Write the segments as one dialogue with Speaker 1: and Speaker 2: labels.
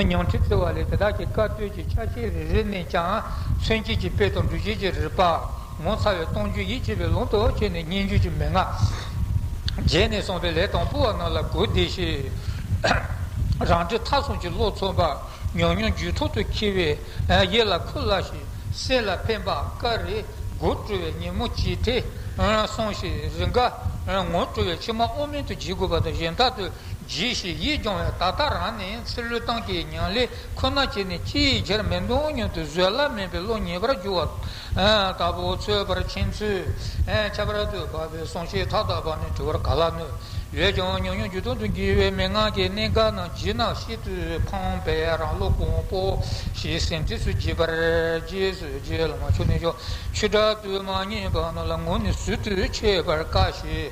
Speaker 1: ཉང་ཁྲི་ཙི་བ་ལས་དེ་དག་གི་བཀའ་བསྟོད་ཀྱི་ཕྱག་བཞེས་རེ་རེ་ནས་ཀྱང་མཚོན་བྱེད་ཀྱི་དཔེ་དང་འབྲུ་བྱེད་ཀྱི་རིགས་པ། ངོ་མཚར་བའི་སྟོང་བརྗོད་ཡིད་ཆེས་པའི་ལུང་དུ་བྱས་ནས་སྙན་བརྒྱུད་ཀྱི་མན་ངག། རྗེས་ནས་གསུངས་པའི་ལས་དང་པོ་བ་རྣམས་ལ་གུས་བདེ་ཞུས། རང་འདྲའི་མཐའ་བཟུང་གི་བློ་མཚོན་པ། ཉུང་ཉུང་རྒྱུད་ཐོག་ཏུ་འཁྱིལ་བའི། གཡས་ལ་ཁུ་བླ་ཞིག་སེ་ལ་ཕན་པ་ཀ་རེ་དགུ་སྤྲུལ་བའི་ཉིན་མོ་གཅིག་དེ་སོང་ཞིག་རི་འགའ་ངོ་སྤྲུལ་བའི་ཕྱི་མ་དབུ་མེད་དུ་བགྱིད་དགོས་པ་དང་གཞན་དག་ཏུ་གྱིས་ཤིག་ཡིད་སྐྱོང་བའི་ད་ལྟ་རང་ནི་ཚེ་ལུས་སྟངས་ཀྱི་མྱང་ལས་ཁོ་ན་བྱས་ནས་ཅིའི་ཕྱིར་མི་འདོང་སྙམ་དུ་བཟོད་གླགས་མེད་པའི་བློ་ཉེས་པར་གྱུར་བ་དག་པོ་འཚོལ་བར་ཕྱིན་ཚུལ། ཁྱད་པར་དུ་བབས་པའི་གསུང་བཤད་མཐའ་དག་པ་ནི་དྲི་བར་ག་ལ་ནུས། ཡོད་ཀྱང་ཉུང་ཉུང་བརྒྱུད་སྟོང་དུ་འགྱུར་བའི་མན་ངག་གི་གནད་འགག་རྣམས་བརྗིད་ནག་ཤིན་ཏུ་ཕངས་པས་རང་བློ་གོང་སྤོ་ཞིག་སེམས་རྩེ་སུ་བགྱིས་པར་རྗེས་སུ་རྗེས་ལ་མ་ཆོག་ནུས་ཀྱང་ཆུ་དྲག་ཏུ་མ་ངེས་པ་རྣམས་ལ་ངོ་ནི་ཟུར་དུ་ཆོད་པར་དཀའ་ཞེས་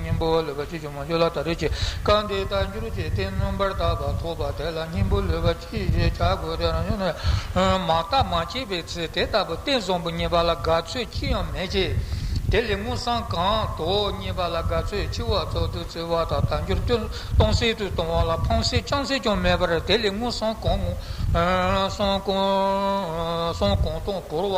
Speaker 1: སྙིང་པོ་ལུས་པ་ཅི་བྱུང་མ་བྱུང་ལ་ད་རེས་ཀྱི་བཀའ་འདི་ལྟར་འགྱུར་ཅིག་སྟེ་མངོན་པར་བརྟགས་པ་ཐོབ་པ་དེ་ལ་སྙིང་པོ་ལུས་པ་ཅི་ཞེས་བྱ་དགོས་ཏེ་རང་བྱུང་ནས་མ་བརྟགས་མ་དཔྱད་པའི་ཚེ་དེ་ལྟ་བུ་སྟེ་གསོང་པོ་གཉིས་པ་ལ་དགའ་ཚོད་ཅི་ཡང་མེད་ཀྱི། དེ་ལས་སྔོ་བསངས་གང་དོ་གཉིས་པ་ལ་དགའ་ཚོད་ཆེ་བ་ཚོགས་དུས་བརྩི་བ་དང་དལ་འབྱོར་སྐྱོན་སྟོང་ཟད་དུ་གཏོང་བ་ལ་ཕངས་སེམས་བཅངས་སེམས་ཀྱང་མེད་པར་དེ་ལས་སྔོ་བསངས་གང་སོང་གང་སོང་གང་སྟོང་བོར་བ།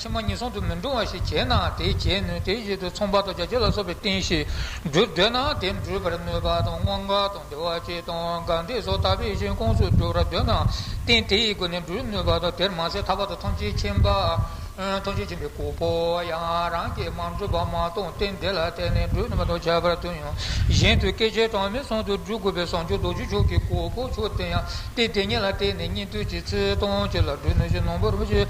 Speaker 1: ཕྱི་མ་གཉིས་ཟུང་དུ་མི་འབྲུང་བ་ཞིག་བྱེད་ནའང་དེས་བྱེད་ནུས་དེའི་རྗེས་དུ་ཚོང་པ་དང་རྒྱ་སྐྱེགས་ལ་སོགས་པའི་རྟེན་གཞི་སྒྲུབ་འདོད་ནའང་དེ་འགྲུབ་པར་ནུས་པ་དང་དངོས་འགལ་དང་འབྲེལ་བ་ཅི་དང་གང་བདེ་སོགས་དག་པའི་ཞིང་ཁོངས་སུ་སྒྲུབ་ར་འདོད་ནའང་རྟེན་དེ་ཡི་སྒོ་ནས་འགྲུབ་ནུས་པ་དང་དེར་མ་ཟད་ཐར་པ་དང་ཐམས་ཅད་མཁྱེན་པ། ཐམས་ཅད་མཁྱེན་པའི་གོ་འཕོ་བ་ཡང་རང་གིས་མ་འགྲུབ་པ་མ་གཏོགས་རྟེན་དེ་ལ་བརྟེན་ནས་འགྲུབ་ནུས་པ་དང་ཁྱད་པར་དུ་ཡང་གཞན་དུ་སྐད་ཆའི་གྲངས་མེད་ཟུང་དུ་སྒྲུབ་དགོས་པའི་བཟང་སྤྱོད་རྡོ་རྗེ་མཆོག་གི་གོ་འཕོ་མཆོག་དེ་ཡང་རྟེན་དེ་ཉིད་ལ་བརྟེན་ནས་གཉིས་མཐུད་ཀྱི་ཚུལ་དང་བཅས་ལ་སྒྲུབ་ནུས་ཤིང་ནོངས་པ་རུ་བཞེད།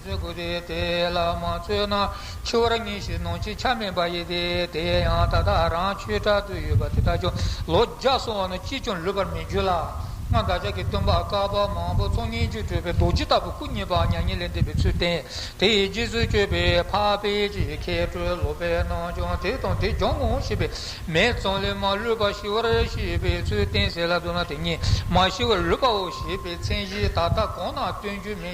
Speaker 1: ཚོས་དགོས་ཏེ་དེ་ལ་མ་ཚོས་ན་འཆི་བར་ངེས་ཤིང་ནང་བྱེད་ཆ་མེད་པ་ཡིན་ཏེ། དེ་ཡང་ད་ལྟ་རང་ཆོས་གྲྭ་དུ་ཡོད་པ་དེ་དག་ཀྱང་ལོ་བརྒྱ་སོང་བ་ན་ཅིས་ཀྱང་ལུས་པར་མི་འགྱུར་ལ། སྔར་བདག་ཅག་གི་སྟོན་པ་བསྐལ་པ་མང་པོ་ཚོགས་སྙན་བརྒྱུད་སྤྲོས་པའི་རྡོ་རྗེ་ལྟ་བུ་སྐུ་བརྙེས་པའང་མྱ་ངན་ལས་འདས་པའི་ཚུལ་བསྟན། དེ་ཡི་རྗེས་སུ་སྤྱོད་པའི་འཕགས་པས་ཀྱི་མཁས་གྲོལ་སློབ་པའི་རྣམས་ཀྱང་དེ་དང་དེ་སྦྱང་ངོ་ཞེས་པས་མེད་ཙམ་ལས་མ་ལུས་པར་ཞི་བར་ཤེས་པའི་ཚུལ་བསྟན་ཟེར་ལ་མདོར་ན་དེ་ཉིད་མ་ཞི་བར་ལུས་པའོ་ཞེས་པའི་མཚན་གཞི་ད་ལྟ་གང་ན་སྟོན་རྒྱུ་མེད།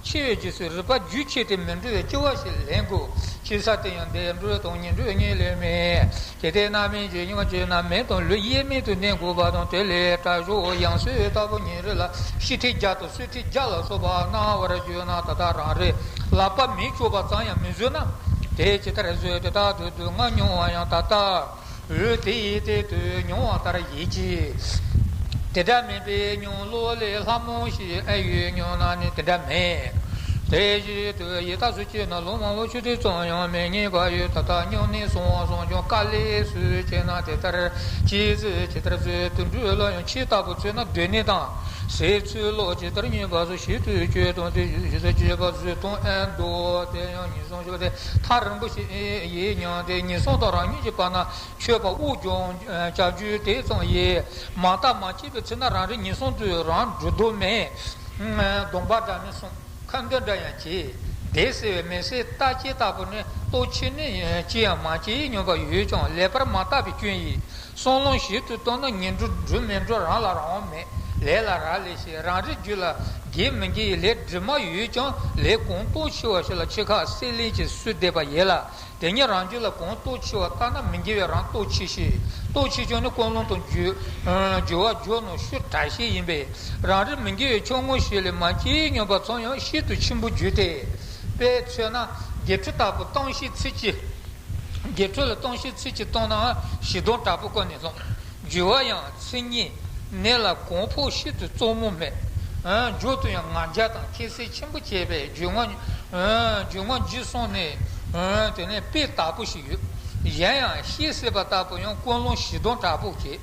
Speaker 1: འཆི་བའི་རྗེས་སུ་རིག་པ་རྒྱུད་ཆད་དེ་མི་འབྲི་བའི་སྐྱེ་བ་ཞིག་ལེན་དགོས་ཞེས་ས་སྟེང་ཡང་འདས་འགྲོའི་དོན་གཉིས་འགྲོས་གཉིས་ལས་མེད། གལ་ཏེ་རྣམ་སྨིན་བརྗོད་སྙིང་བརྗོད་རྣམས་མེད་དང་ལུས་དབྱེར་མེད་དུ་གནས་དགོས་པ་དང་དེ་ལས་དྲག་ཤོས་དབྱངས་གསོལ་ལྟ་བུ་ཉིན་རེ་ལ་ཤི་ཁྲི་བརྒྱ་དང་གསོད་ཁྲི་བརྒྱ་ལ་སོགས་པ་གནང་བར་བརྗོད་ན་ད་ལྟ་རང་རེས་ལག་པ་མི་ཆོད་པ་ཙམ་ཡང་མི་བཟོད་ན། དེ་ཇི་ལྟར་བཟོད་དེ་དག་ཏུ་སྡུག་བསྔལ་མྱོང་བ་ཡང་ད་ལྟ། རུས་དེ་ཡི་སྟེང་དུ་མྱོང་བ་ལྟར་ཡིད་ཀྱིས། དེ་འདྲ་མིན་པའི་མྱོང་བློ་ལས་ལྷ་མོ་ཞིག་ཨེ་ཡོད་སྙམ་ན་ནི་དེ་འདྲ་མེད། དེ་བཞིན་དུ་ཡི་དྭགས་སུ་སྐྱེས་ན་ལུང་མང་བོ་ཆུ་དྲི་ཙམ་ཡང་མི་རྙེད་པ་ཡོད་ད་ལྟ་སྙིང་ནད་སོང་བ་སོང་ཀྱང་དཀའ་ལས་སུ་བྱས་ན་དེ་ལྟར་སྐྱེས་ཚུལ་ཇི་ལྟར་བཟོད་དུ་འགྲོ་ལ་ཡང་ཁྱི་ལྟ་བུ་ཚོས་ན་སྡོད་གནས་དང་ཟས་ཚུལ་ལོག་ཇི་ལྟར་ཉོས་པ་སོགས་ཞིབ་ཏུ་དཔྱོད་དང་དེ་བཞིན་ཞིབ་ཏུ་དཔྱད་པ་བཟོད་དང་ཨེ་འདུག་དེ་ཡང་ཉིན་གསུམ། ཞེས་པ་སྟེ་ཐག་རིང་པོ་ཞིག་ཡིན་མྱོང་སྟེ་ངན་སོང་དང་རང་ཉིད་ཀྱི་བར་ན་ཆོས་པ་དབུགས་འབྱུང་བྱ་རྒྱུའི་དེ་ཙམ་ཡིན། མ་བརྟགས་མ་དཔྱད་པའི་ཚེ་ན་རང་རེ་ངན་སོང་དུས་རང་གྲོལ་དུ་མེད། སྡོམ་པ་འདྲ་ནི་སྲུང་ཁ་འདོན་འདྲ་ཡང་བྱེད། བདེ་སེ་བའི་མི་སེར་ལྟ་བྱེད་ལྟ་བུ་ནི་ལྟོ་འཕྱེ་ནི་ཅི་ཡང་མ་བྱས་མྱོང་པ་ཡོད་ཀྱང་ལེགས་པར་མ་བརྟགས་པའི་སྐྱོན་ཡིན། སྲོག་རླུང་ཞིབ་ཏུ་གཏོར་ན་ངན་འགྲོ་འགྲོས་མེད་འགྲོ་རང་ལ་རང་དབང་མེད་ལས་ལ་རག་ལས་ཤིག་རང་རེ་རྒྱུད་ལ་དགེ་མི་དགེ་ཡི་ལས་དྲི་མ་ཡོད་ཀྱང་ལས་གོང་ལྟོ་འཕྱེ་བ་ཞིག་ལ་ཆེ་ཁག་བསྲེ་ལེན་གྱིས་བསུས་བསྡད་པ་ཡིན་ལ་དེ་ཉིད་རང་རྒྱུད་ལ་གོང་ལྟོ་འཕྱེ་བ་ལྟ་ན་མི་དགེ་བའི་རང་ལྟོ་འཕྱེ་ཞིག་ལྟོ་འཕྱེ་ཀྱང་ནི་ཀུན་སློང་དང་སྦྱོར་བ་སྦྱོར་ནོ་ཤུ་དྲག་ཤིག་ཡིན་པས་རང་རེ་མི་དགེ་བའི་ཕྱོགས་དངོས་ཤིག་ལས་མ་སྐྱེས་སྙོམས་པར་འཚོང་ཡང་ཤིན་ཏུ་ཆེན་པོ་རྒྱུ་དེས་པས་མཚོན་ན་དགེ་ཕྲུག་དག་པོ་བཏང་ཤིག་ཚིག་གཅིག་རྒྱས་འཕྲོས་ལ་སྟོང་བཤད་ཚིག་གཅིག་སྟོང་ནའང་བཞི་སྟོང་དྲག་པོ་བཀོད་ནས་སློང། བརྒྱུད་བ་ཡང་ཚིག་གཉིས། གནད་ལ་གོང་འཕོ་ཤིན་ཏུ་གཙོ་མོ་མེད། མཇུག་ཏུ་ཡང་ང་རྒྱལ་དང་ཁྱད་གསད་ཆེན་པོ་བྱས་པས་རྒྱུད་ངག། རྒྱུད་ངག་འཇིག་སོང་ནས། དེ་ནས་དཔེ་དག་པོ་ཞིག་ཡོད། གཞན་ཡང་ཤེས་སྲིད་པ་ལྟ་བུ་ཡང་ཀུན་སློང་བཞི་སྟོང་དྲག་པོ་བྱེད།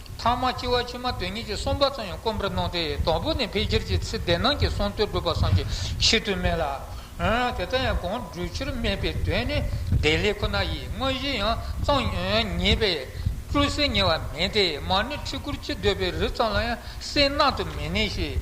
Speaker 1: ཐང་མ་ལྕི་བ་ཕྱི་མ་དོན་གཉིས་ཀྱི་གསུམ་པ་ཙམ་ཡང་སྐོམ་པར་སྣང་སྟེ་དང་པོ་ནས་ཕལ་ཆེར་གྱི་ཚེ་བདེ་སྣང་གི་གསུང་དོན་སྒྲུབ་པ་སངས་རྒྱས་ཤིན་ཏུ་སྨིན་ལ། དེ་ལྟར་ཡང་གང་བསྒྲུབ་ཕྱིར་སྨིན་པའི་དོན་ནི་བདེ་ལེགས་ཁོ་ན་ཡིས་དངོས་གཞི་ཡང་གཙང་ངེས་པས་སྤྲུལ་སེལ་ངེས་པ་མིན་ཏེ་མར་ནི་ཁྲི་སྐོར་ཅི་འདོད་པའི་རི་ཙམ་ལ་ཡང་སེལ་སྣང་དུ་མི་གནས་ཤིང།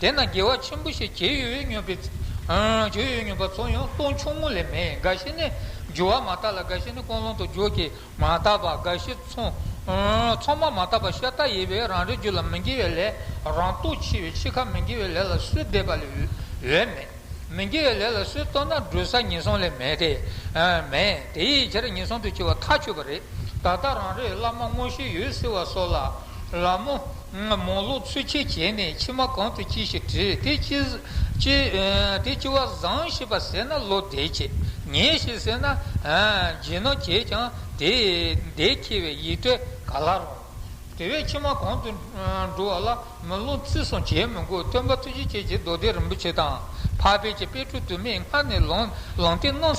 Speaker 1: དེ་ན་དགེ་བ་ཆེན་པོ་ཞིག་བྱེད་ཡུལ་ཉོན་པའི་བྱེད་ཡུལ་ཉོན་པ་ཚོ་ཡང་སྟོང་ཆུང་ངུ་ལས་མེད་འགའ་ཞིག་ནི་རྒྱུ་བ་མ་བཏགས་ལ་འགའ་ཞིག་ནི་ཀོང་ལོང་དུ་རྒྱུ་བགེགས་མ་བཏགས་པ་འགའ་ཞིག་ཚོང་མ་མ་བཏགས་པ་ཤ་སྟག་ཡིན་པས་རང་རེ་རྒྱུ་ལ་མི་འགྱེལ་བའི་ལས་རང་སྟོབས་ཆེ་བས་འཆི་ཁ་མི་འགྱེལ་བའི་ལས་ལ་སུས་བསྡད་པ་ལས་འོས་མེད། མི་དགེ་བའི་ལས་ལ་སུས་བརྟོལ་ན་འགྲོས་ས་ངན་སོང་ལས་མེད་དེ། མེད་དེ་ཡི་ཕྱིར་ངན་སོང་དུ་སྐྱེ་བ་ཐག་ཆོད་པ་རེད། ད་ལྟ་རང་རེས་བླ་མ་དངོས་གཞི་ཡོད་ཟེར་བ་སོགས་ལ། ལ་མོ། མོ་ལོག་ཚུལ་འཆལ་བྱས་ནས་ཕྱི་མ་གང་དུ་སྐྱེ་ཞེས་དྲིས་དེ་སྐྱེ། དེ་སྐྱེ་བ་བཟང་ཞེས་པ་ཟེར་ན་བློ་བདེ་སྐྱེ། ངན་ཞེས་ཟེར་ན། ཇེ་ནོར་བྱས་ཀྱང་དེས་བདེ་སྐྱེ་བའི་ཡིད་སྤྲེལ་ག་ལ་རུང། དེ་བས་ཕྱི་མ་གོང་དུ་འགྲོ་བ་ལ་མི་སློང་བརྩི་སྲུང་བྱེད་མི་དགོས་སྟོན་པ་ཐུགས་རྗེ་ཆེ་ཆེ་རྡོ་རྗེ་རིན་པོ་ཆེ་དང་འཕགས་པའི་ཆེ་དཔལ་ཁྲོ་དུ་མས་སྔར་ནས་ལངས་ཏེ་གནང་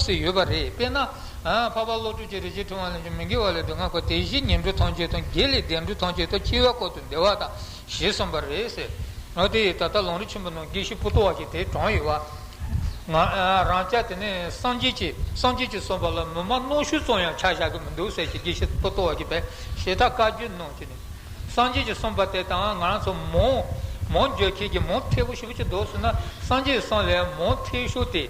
Speaker 1: སྲིད་ཡོད་པ་རེད་དཔེར་ན། འཕགས་པ་བློ་གྲོས་ཀྱི་རིག་བྱེད་ཕྲེང་བ་ལས་ཀྱང་མི་འགལ་བ་ལས་སྡུག་བསྔལ་འཁོར་དེ་བཞིན་ཉེར་འགྲོ་ཐམས་ཅད་དང་དགེ་ལས་འདས་འགྲོ་ཐམས་ཅད་དང་འཆི་བའི་འཁོར་དུ་བདེ་བ་དང་ཞེས་གསུངས་པ་རེད། ཟེར། དེ་ཡིས་ད་ལྟ་ལུང་རིགས་ཆེན་པོ་ནང་དགེ་བཤེས་སྤུ་ཏོ་བ་ཞིག་དེའི་གྲོང་ཡིན་བ། ང་རང་སྐྱ་དེ་ནས་སངས་རྒྱས་ཀྱི་སངས་རྒྱས་ཀྱི་གསུངས་པ་ལ་མི་མ་རྣོ་ཤུལ་ཙོང་ཡང་ཆ་བཞག་གི་མི་འདུག་ཟེར་ཞེས་དགེ་བཤེས་སྤུ་ཏོ་བ་གིས་བས་ཞེ་ཐག་བཀའ་བརྒྱུད་ནང་གི་ནི། སངས་རྒྱས་ཀྱི་གསུངས་པ་དེ་དང་ང་རང་ཚོ་མོང། མོང་འགྱོད་ཁྱེད་ཀྱིས་མོང་ཐེ་བོ་ཞིག་བུ་ཅིག་འདོགས་ཟིན་ན་སངས་རྒྱས་གསུངས་ལས་མོང་ཐེ་ཤོར་ཏེ།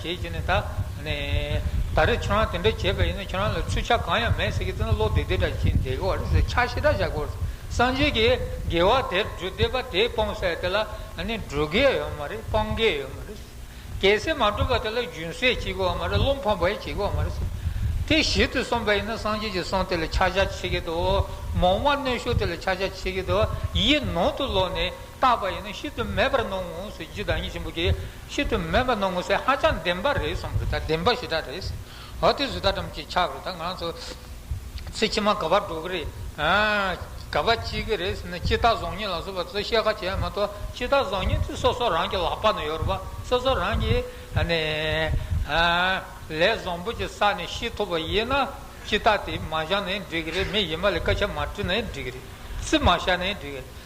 Speaker 1: ཁྱེད་ཀྱིས་ནི་ད། ད་རེས་ཁྱོད་རང་དེ་འདྲ་བྱས་པ་ཡིན་ན་ཁྱོད་རང་ལ་ཚུལ་ཆ་གང་ཡང་མེད་ཟེར་གི་ཙི་ན་བློ་བདེ་བདེ་འདྲ་ཁྱིམ་བདེ་གི་བར་ཟེར་ཕྱག་ཞེ་དྲག་བྱ་དགོས་རེད། སངས་རྒྱས་ཀྱིས་དགེ་བ་དེར་འགྲོ་བདེ་བ་དེ་སྤོང་ཟེར་དེ་ལ་འགྲོ་གེ་ཡོད་མ་རེད་སྤང་གེ་ཡོད་མ་རེད། གལ་སྲིད་མ་འགྲོ་བ་དེ་ལ་རྒྱུན་སྲེག་བྱེད་དགོས་བ་མ་རེད་བློ་འཕོངས་པ་ཡང་བྱེད་དགོས་བ་མ་རེད། དེ་གཞི་དུ་སོང་པ་ཡིན་ན་སངས་རྒྱས་ཀྱི་གསུང་དེ་ལ་ཕྱག་རྒྱ་བྱེད་གི་འདུག་མོང་བ་གནོད་ཤུགས་དེ་ལ་ཕྱག་རྒྱ་བྱེད་གི་འདུག་ཡིད་ནང་དུ་ལོག་ནས་བཏགས་པ་ཡིན་ན་ཤིན་ཏུ་མེད་པར་སྣང་ངོ་ཟེར་རྒྱུ་བདག་ཉིད་ཆེན་པོ་ཀྱི་ཤིན་ཏུ་དམན་པ་ནོར་ངོ་ཚས་ཧ་ཅང་བདེན་པ་རེད་གསུངས་པ་རེད་ད་བདེན་པ་ཞེ་དྲག་རེད། ཧོ་དེ་བཟོ་ད་དྲམ་གྱི་ཆགས་རེད་ད་ང་ཚོ་ཚེ་ཕྱི་མ་ག་བར་འགྲོ་གི་རེད་ཨ། ག་བ་ཅི་གི་རེད་ཟེར་ན་སྤྱི་བཏགས་བཟང་ཉེས་ལ་སོགས་པ་ཚོ་བཤད་ཁ་བྱས་མ་གཏོགས་སྤྱི་བཏགས་བཟང་ཉེས་དེ་སོ་སོ་རང་གི་ལག་པ་ན་ཡོད་རེད་པ་སོ་སོ་རང་གིས་ཧ་ནས་ཨ། ལས་བཟང་པོ་ཅིག་བསགས་ནས་ཤི་ཐུབ་པ་ཡིན་ན་སྤྱི་བཏགས་དེ་མ་བཞག་ནས་འགྲིག་གི་རེད་མི་ཡིན་པ་ལས་སྐད་ཆ་མ་དྲི་ནས་འགྲིག་གི་རེད་རྩིས་མ་བཞག་ནས་འགྲིག་གི་རེད།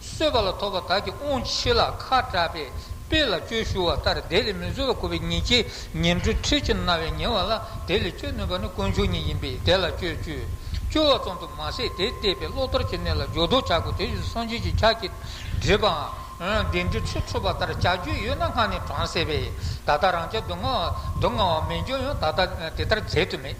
Speaker 1: གསོད་པ་ལ་ཐོགས་པ་དག་གིས་དབང་ཆེ་ལ་ཁ་གྲགས་པས་དཔེ་ལ་བཅོས་ཞུ་བ་ལྟར་དེ་ལས་མི་བཟོད་པ་གོ་བའི་ཉེས་བྱས་ཉེར་འབྲུ་ཁྲི་ཅན་རྣ་བས་ཉན་བ་ལ་དེ་ལས་བཅོས་ནུས་པ་ནི་དཀོན་མཆོག་ཉིད་ཡིན་པས་དེ་ལ་བཅོས་བཅོས་བཅོས་བ་ཙམ་དུ་མ་ཟད་དེ་བལྟས་པས་བློ་དོར་གྱི་གནས་ལ་སྦྱོར་བཟློག་བྱ་དགོས་དེ་བཞིན་དུ་སངས་རྒྱས་ཀྱི་ཕྱག་གིས་བསྒྲིབས་པའང་བདེན་འབྲས་ཁྲི་འཕྲོག་པ་ལྟར་བྱ་རྒྱུ་ཡོད་ན་སྔར་ནས་གྲངས་བསལ་བས་ད་ལྟ་རང་ཅག་སྡུག་བསྔལ་བ་མི་འབྱུང་ཡང་ད་ལྟ་དེ་ལྟར་མཛད་དུ་མེད།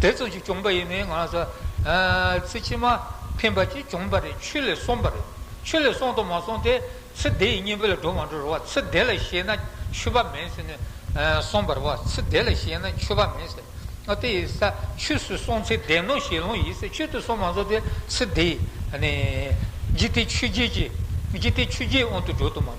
Speaker 1: དེ་ཙམ་ཞིག་བྱུང་པ་ཡིན་མིན་ང་རང་ཚོ་ཚེ་ཕྱི་མ་ཕན་པ་ཅིག་བྱུང་པ་རེད་ཆུ་ལས་སོང་པ་རེད་ཆུ་ལས་སོང་དང་མ་སོང་དེ་ཚེ་འདི་ཡི་གཉེན་པོ་ལ་འགྲོ་མ་འགྲོ་རུ་བ་ཚེ་འདི་ལ་ཤེས་ན་ཆུ་བ་མེད་ཟེར་ནས་སོང་པ་རུ་བ་ཚེ་འདི་ལ་ཤེས་ན་ཆུ་བ་མེད་ཟེར་ཨ་དེ་ཡི་ས་ཆུ་སུ་སོང་ཚེ་འདས་ནོ་ཞེས་ལོང་ཡིད་ས་ཆུད་དུ་སོང་མ་སོང་དེ་ཚེ་འདི་ཡི་ནི་ཇི་སྟེ་ཆུ་རྗེས་ཀྱི་ཇི་སྟེ་ཆུ་རྗེས་དབང་དུ་འགྲོ་དུ་མ།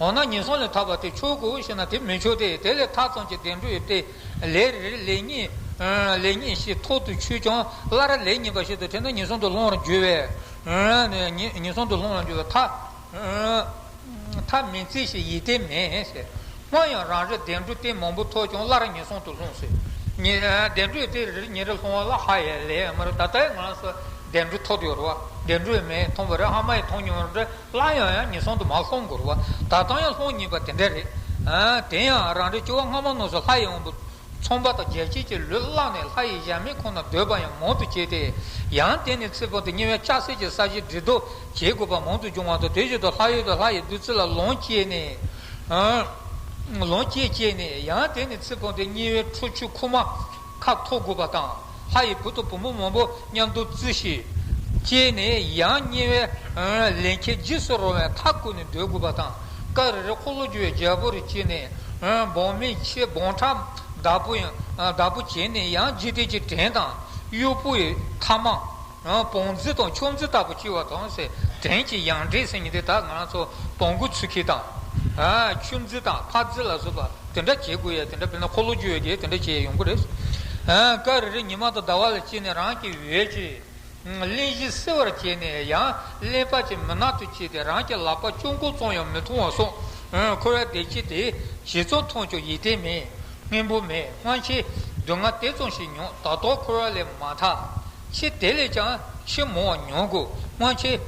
Speaker 1: འོ་ན་ངན་སོང་ལས་ཐར་བ་དེ་ཆོག་གོ་ཞེ་ན་དེ་མི་ཆོག་སྟེ་དེ་ལས་ཐར་ཙམ་གྱི་བདེ་འགྲོ་ཡོད་དེ། ལས་རེར་ལས་གཉིས་ཤིག་ཐོག་ཏུ་ཆུད་ཀྱང་སླར་ལས་གཉིས་པ་ཞིག་ཏུ་ཐེབས་ན་ངན་སོང་དུ་ལྷུང་བར་འགྱུར་བས། ངན་སོང་དུ་ལྷུང་བར་འགྱུར་བའི་མཐའ་མི་མཛད་ཞེས་ཡིད་བརྟན་མེད། སྔོན་ཡང་རང་རེས་བདེ་འགྲོ་སྟེ་མང་པོ་ཐོབ་ཀྱང་སླར་ངན་སོང་དུ་ལྷུང་སྲིད། བདེ་འགྲོ་ཡོད་དེ་རེར་ཉིན་རེར་ལྷུང་བ་ལ་ཧ་ཡའི་ལས་མ་རེད་ད་ལྟའི་ང་ལ་སོགས་བདེ་འགྲོ་ཐོབ་ཡོད་རེད་བ། བདེ་འགྲོ་ཡོད་མེད་མཐོང་བ་རེད་ཧ་མ་ཡིན་མཐོང་མྱོང་རེད། སླར་ཡང་ཡང་ངེས་གསང་དུ་མ་ལྷོངས་འགོར་བ་ད་ལྟང་ཡང་ལྷོངས་ཉེས་པ་དེ་འདྲ་རེད། དེ་ཡང་རང་རེ་སྐྱོ་བ་སྔ་མ་ནོར་སོ་ལྷ་ཡི་དབང་པོ། ཚོང་པ་དང་རྒྱལ་གཅེས་ཀྱི་ལུས་བླངས་ནས་ལྷ་ཡི་གཞལ་མེད་ཁོ་ན་སྡོད་པ་ཡང་མང་དུ་བྱས་ཏེ། ཡང་དེ་ནས་ཚེ་དཔག་ཏུ་ཉེ་བའི་ལྕགས་བསྲེགས་ཀྱི་ས་གཞི་འདྲི་རྟོག་བྱེད་དགོས་པ་མང་དུ་འབྱུང་བ་དང་དེ་བཞིན་དུ་ལྷ་ཡུལ་དུ་ལྷ་ཡི་བདུད་རྩི་ལ་ལོངས་སྤྱད་ནས། ལོངས་སྤྱད་སྤྱད་ནས་ཡང་དེ་ནས་ཚེ་དཔག་ཏུ་ཉེ་བའི་ཁྲོ་ཆུ་ཁུག་མ། ཁ་འཐོར་དགོས་པ་དང་ལྷ་ཡི་བུ་དང་བུ་མོ་མང་པོ་མཉམ་དུ་བརྩི་ཞིག། ཅེས་ནས་ཡང་བསྙེན་བའི་ལན་ཁྱེད་རྗེས་སུ་རང་བའི་མཐའ་བསྐོར་ནས་སྒྲོལ་དགོས་པ་དང་སྐ་རེ་རེ་འཁོར་ལོ་བསྒྱུར་བའི་རྒྱལ་པོ་རེ་བྱས་ནས་འབངས་མི་ཆེ་འབངས་ཕྲ་བདག་པོ་བདག་པོ་བྱས་ནས་ཡང་རྗེས་དྲན་གྱི་བྲན་དང་གཡོག་པོ་ཡི་མཐའ་མང། བོང་རྫི་དང་ཕྱོགས་འཛིན་ལྟ་བུ་བཅོལ་བ་དང། བྲན་གྱི་ཡང་འདྲེས་སེང་གེ་དག་ང་རང་ཚོ་བོང་བུ་ཚུར་ཁྱེར་དང། ཆུ་རྫི་དང་ཕག་རྫི་ལ་སོགས་པ་དེ་འདྲ་བྱེད་དགོས་ཡ་དེ་འདྲ་དཔེར་ན་འཁོར་ལོ་བཅོལ་བའི་དེ་འདྲ་བྱེད་ཡོང་གི་རེད། སྐབས་རེ་རེ་ཉི་མ་དང་ཟླ་བ་ལ་བཅིངས་ནས་རང་གི་འོད་ཀྱིས། གླིང་བཞི་བསིལ་བར་བྱས་ནས་ཡང་གླིང་བག་ཅན་མུན་ནག་ཏུ་བྱས་ཏེ་རང་གི་ལག་པ་གཅུང་མགོ་བཙོང་ཡང་མི་མཐོང་བ་སོགས་འཁོར་བའི་བདེ་སྐྱིད་དེ་བྱས་ཙང་མཐོང་ཆོག་ཡིད་བརྟན་མེད། སྙིང་པོ་མེད་སྔོན་ཆད་སྡུག་བསྔལ་དེ་ཙམ་ཞིག་མྱོང་ད་དུང་འཁོར་བ་ལས་མ་ཐག་ཕྱིས་དེ་ལས་ཀྱང་ཆེས་མང་བ་མྱོང་དགོས་སྔོན་ཆད།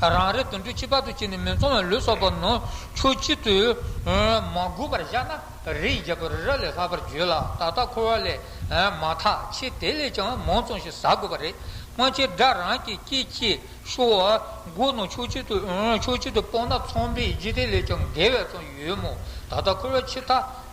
Speaker 1: རང་རེ་དུད་འགྲོ་སྤྱི་བར་དུ་སྐྱེས་ནས་མི་ཚང་བའི་ལུས་སྲོག་པོ་ནང་ཆོས་སྤྱི་དུ་མ་དགོས་པར་བཞག་ན་རིའི་རྒྱལ་པོ་རི་རབ་ལས་ལྷག་པར་འགྱོད་ལ་ད་ལྟ་འཁོར་བ་ལས་མ་ཐག་ཕྱིས་དེ་ལས་ཀྱང་མང་ཙམ་ཞིག་ཟ་དགོས་པ་རེད། སྔོན་ཆད་དགྲ་རང་གི་སྐྱེས་སྐྱེས་ཤོར་བ་སྒོ་ནང་ཆོས་སྤྱི་དུ་སྤོས་ན་ཚོང་པའི་རྗེས་དེ་ལས་ཀྱང་འགལ་བས་ཙམ་ཡོད་མོད་ད་ལྟ་འཁོར་བའི་ཕྱི་ཐག་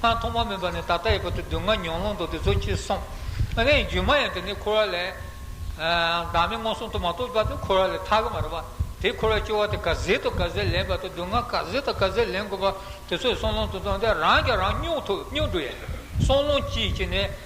Speaker 1: སྔར་ཐོག་མ་མིན་པ་ནས་ད་ལྟ་ཡི་བར་དུ་སྡུག་བསྔལ་མྱོང་ལོང་དོགས་དེ་ཚོ་ཁྱེར་སོང། དེ་ཡང་རྒྱུ་མ་ཡིན་དེ་ནི་འཁོར་བ་ལས། བདག་མེད་མངོན་སུམ་དུ་མ་རྟོགས་པ་དེ་འཁོར་བ་ལས་ཐར་གི་མ་རེད་པ། དེ་འཁོར་བའི་སྐྱོ་བ་དེ་ག་ཟེ་དང་ག་ཟེ་ལེན་པ་དང་སྡུག་བསྔལ་ག་ཟེ་དང་ག་ཟེ་ལེན་དགོས་པ་དེ་ཚོ་ཡི་སྲོག་ལོང་དུ་བཏང་སྟེ་རང་ཀྱང་རང་སྙོག་ཐུབ་སྙོག་འགྲོ་ཡ། སྲོག་ལོང་གཅིག་གཅིག་ནས།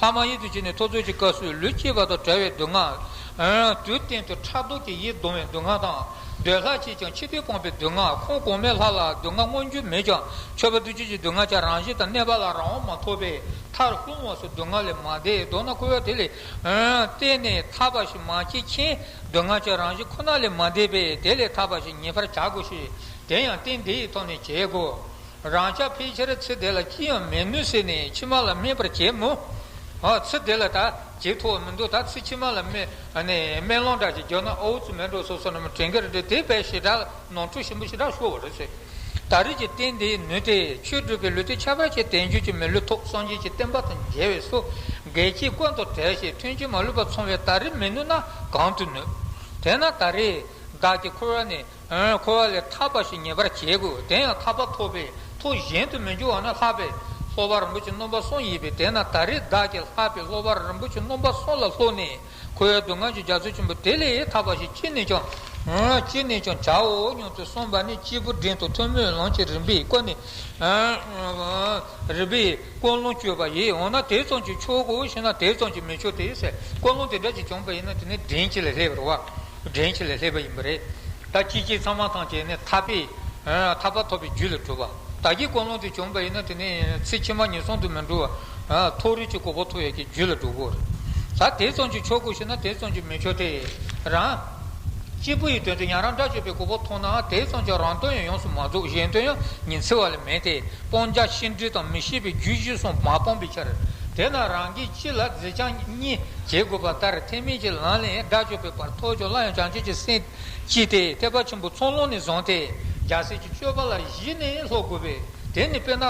Speaker 1: ལྷག་མ་ཡིད་དུ་བྱས་ནས་ཐོ་ཚོད་ཀྱི་སྐབས་སུ་ལུས་སྐྱེས་པ་དང་བྲལ་བའི་སྡུག་བསྔལ། དུས་གཏན་དུ་ཕྲག་དོག་གིས་ཡིད་གདུང་བའི་སྡུག་བསྔལ་དང། འདོད་ལྷ་ཆེས་ཀྱང་འཆི་འཕོས་སྤངས་པའི་སྡུག་བསྔལ་ཁོང་གོང་མའི་ལྷ་ལ་སྡུག་བསྔལ་མངོན་རྒྱུ་མེད་ཀྱང་མཆོད་པ་འདུ་བྱེད་ཀྱི་སྡུག་བསྔལ་ཀྱང་རང་བཞིན་དང་གནས་པ་ལ་རང་དབང་མ་ཐོབ་པས་མཐར་ལྷུང་བ་སོགས་སྡུག་བསྔལ་ལས་མ་འདས་མདོར་ན་འཁོར་བ་དེ་ལས་གཏན་ནས་ཐར་བ་ཞིག་མ་སྐྱེས་མཁན་སྡུག་བསྔལ་གྱི་རང་བཞིན་ཁོ་ན་ལས་མ་འདས་པས་དེ་ལས་ཐར་བ་ཞིག་ངེས་པར་བྱ་དགོས་ཤིང་དེ་ཡང་རྟེན་འདི་ཡི་ཐོག་ནས་བྱེད་དགོས། རང་ཅག་ཕལ་ཆེར་ཚེ་འདི་ལ་ཅི་ཡང་མེད་མོད་ཟེར་ནས་ཕྱི་མ་ལ་སྨད་པར་བྱེད་མོད། ཚེ་འདི་ལ་ད་ཇེ་མཐོ་བ་མི་འདུག་ད་ཚེ་ཕྱི་མ་ལ་སྨད་ལོང་འདྲ་ཞིག་འཇོག་ན་ཨོའུ་ཙི་མེན་ཀྲོ་སོ་སོ་རྣམས་དྲན་གྱིར་འགྲོ་དེ་བས་ཞེ་དྲག་ནོར་འཁྲུལ་ཞིམ་པོ་ཞེ་དྲག་ཤོར་བ་རེད་ཟེར། ད་རེས་ཀྱི་རྟེན་འདིའི་ནུས་དེས་ཆོས་སྒྲུབ་པའི་ལུས་དེ་ཁྱད་པར་ཆེ་དལ་འབྱོར་གྱི་མི་ལུས་ཐོག་སངས་རྒྱས་ཀྱི་བསྟན་པ་དང་མཇལ་བས་སོ། འགལ་གྱིས་བཀོད་འདོགས་བྲལ་ཞེས་མཐུན་རྐྱེན་མ་ལུས་པ་ཚང་བས་ད་རེས་མི་ནུས་ན་གང་དུ་ནུས། དེས་ན་ད་རེས་བདག་གིས་འཁོར་བ་ནས། འཁོར་བ་ལས་ཐར་པ་ཞིག་ངེས་པར་བྱེད་དགོས་དེ་ཡང་ཐར་པ་ཐོབ་པའི་མཐོ་གཞན་དུ་མི་འགྱུར་བ་ན་ལྷག་པའི་ལྷོ་བ་རིན་པོ་ཆེ་སྣོམ་པ་གསུམ་ཡིན་པས་དེས་ན་ད་རེས་བདག་གིས་ལྷག་པའི་ལྷོ་བ་རིན་པོ་ཆེ་སྣོམ་པ་གསུམ་ལ་ལྷུང་ནས་འཁོར་བའི་སྡུག་བསྔལ་གྱི་རྒྱ་མཚོ་ཆེན་པོ་དེ་ལས་ཐར་པ་ཞིག་ཅི་ནས་ཀྱང། ཅི་ནས་ཀྱང་བྱའོ་སྙམ་དུ་གསུངས་པ་ནི་སྐྱེས་བུ་འབྲིང་དུ་ཐུན་མོང་ལམ་གྱི་རིམ་པས་ཀུན་ནས་རིམ་པས་ཀུན་སློང་སྤྱོད་པ་ཡིན་འོ་ན་དེ་ཙམ་གྱིས་ཆོག་གོ་ཞེ་ན་དེ་ཙམ་གྱིས་མི་ཆོག་སྟེ། ཀུན་སློང་དེ་དག་གིས་བྱུང་བ་ཡིན་ན་དེ་ནི་འབྲིང་གཅིག་ལས་སླེབ་པར་བ། འདྲེན་བྱེད་ལས་སླེབས་པ་ཡིན་པ་རེད། ད་ཅི་བྱེད་ཚང་མ་ཐང་ཆད་ནས་ཐར་པའི། ཐར་པ་ཐོབ་པའི་རྒྱུ་ལ་གྲུབ། བདག་གིས་ཀུན་སློང་དེ་བྱུང་བ་ཡིན་ན་དེ་ནས་ཚེ་ཕྱི་མ་ངན་སོང་དུ་མི་འགྲོ་བར། མཐོ་རིས་ཀྱི་གོ་འཕོ་ཐོབ་ཡོད་ཀྱི་རྒྱུ་ལ་འགྲོ་དགོས། ད་དེ་ཙམ་གྱིས་ཆོག་གོ་ཞེ་ན་དེ་ཙམ་གྱིས་མི་ཆོག་སྟེ། རང། གཅིག་པུ་ཡི་དོན་དུ་ཡང་རང་སྒྲ་གཅོད་པའི་གོ་འཕོ་མཐོང་ནའང་དེ་ཙམ་གྱིས་རང་དོན་ཡང་ཡོངས་སུ་མ་རྫོགས་གཞན་དོན་ཡང་ཉི་ཚེ་བ་ལས་མེད་དེ། སྤང་བྱ་ཤིན་འབྲས་དང་མི་ཤེས་པའི་རྒྱུས་གཞི་གསུམ་མ་སྤངས་པའི་ཕྱིར། དེས་ན་རང་གི། ཕྱི་ལ་རྫས་བྱང་གཉིས་བྱེད་དགོས་པ་ལྟར་ཐེག་དམན་གྱི་ལམ་ལས་དགྲ་བཅོམ་པའི་བར་ཐོག་ཆོག་སླ་ཡང་བྱང་ཆུབ་ཀྱི་སེམས་ཀྱིས་དེ་ཐེག་པ་ཆེན་པོ་ཚོགས་ལོངས་ནས་བཟུང་སྟེ་རྒྱལ་སྲས་ཀྱི་སྤྱོད་པ་ལ་གཞི་ནས་ལྷོད་དགོས་པས་དེ་ནི་དཔེར་ན།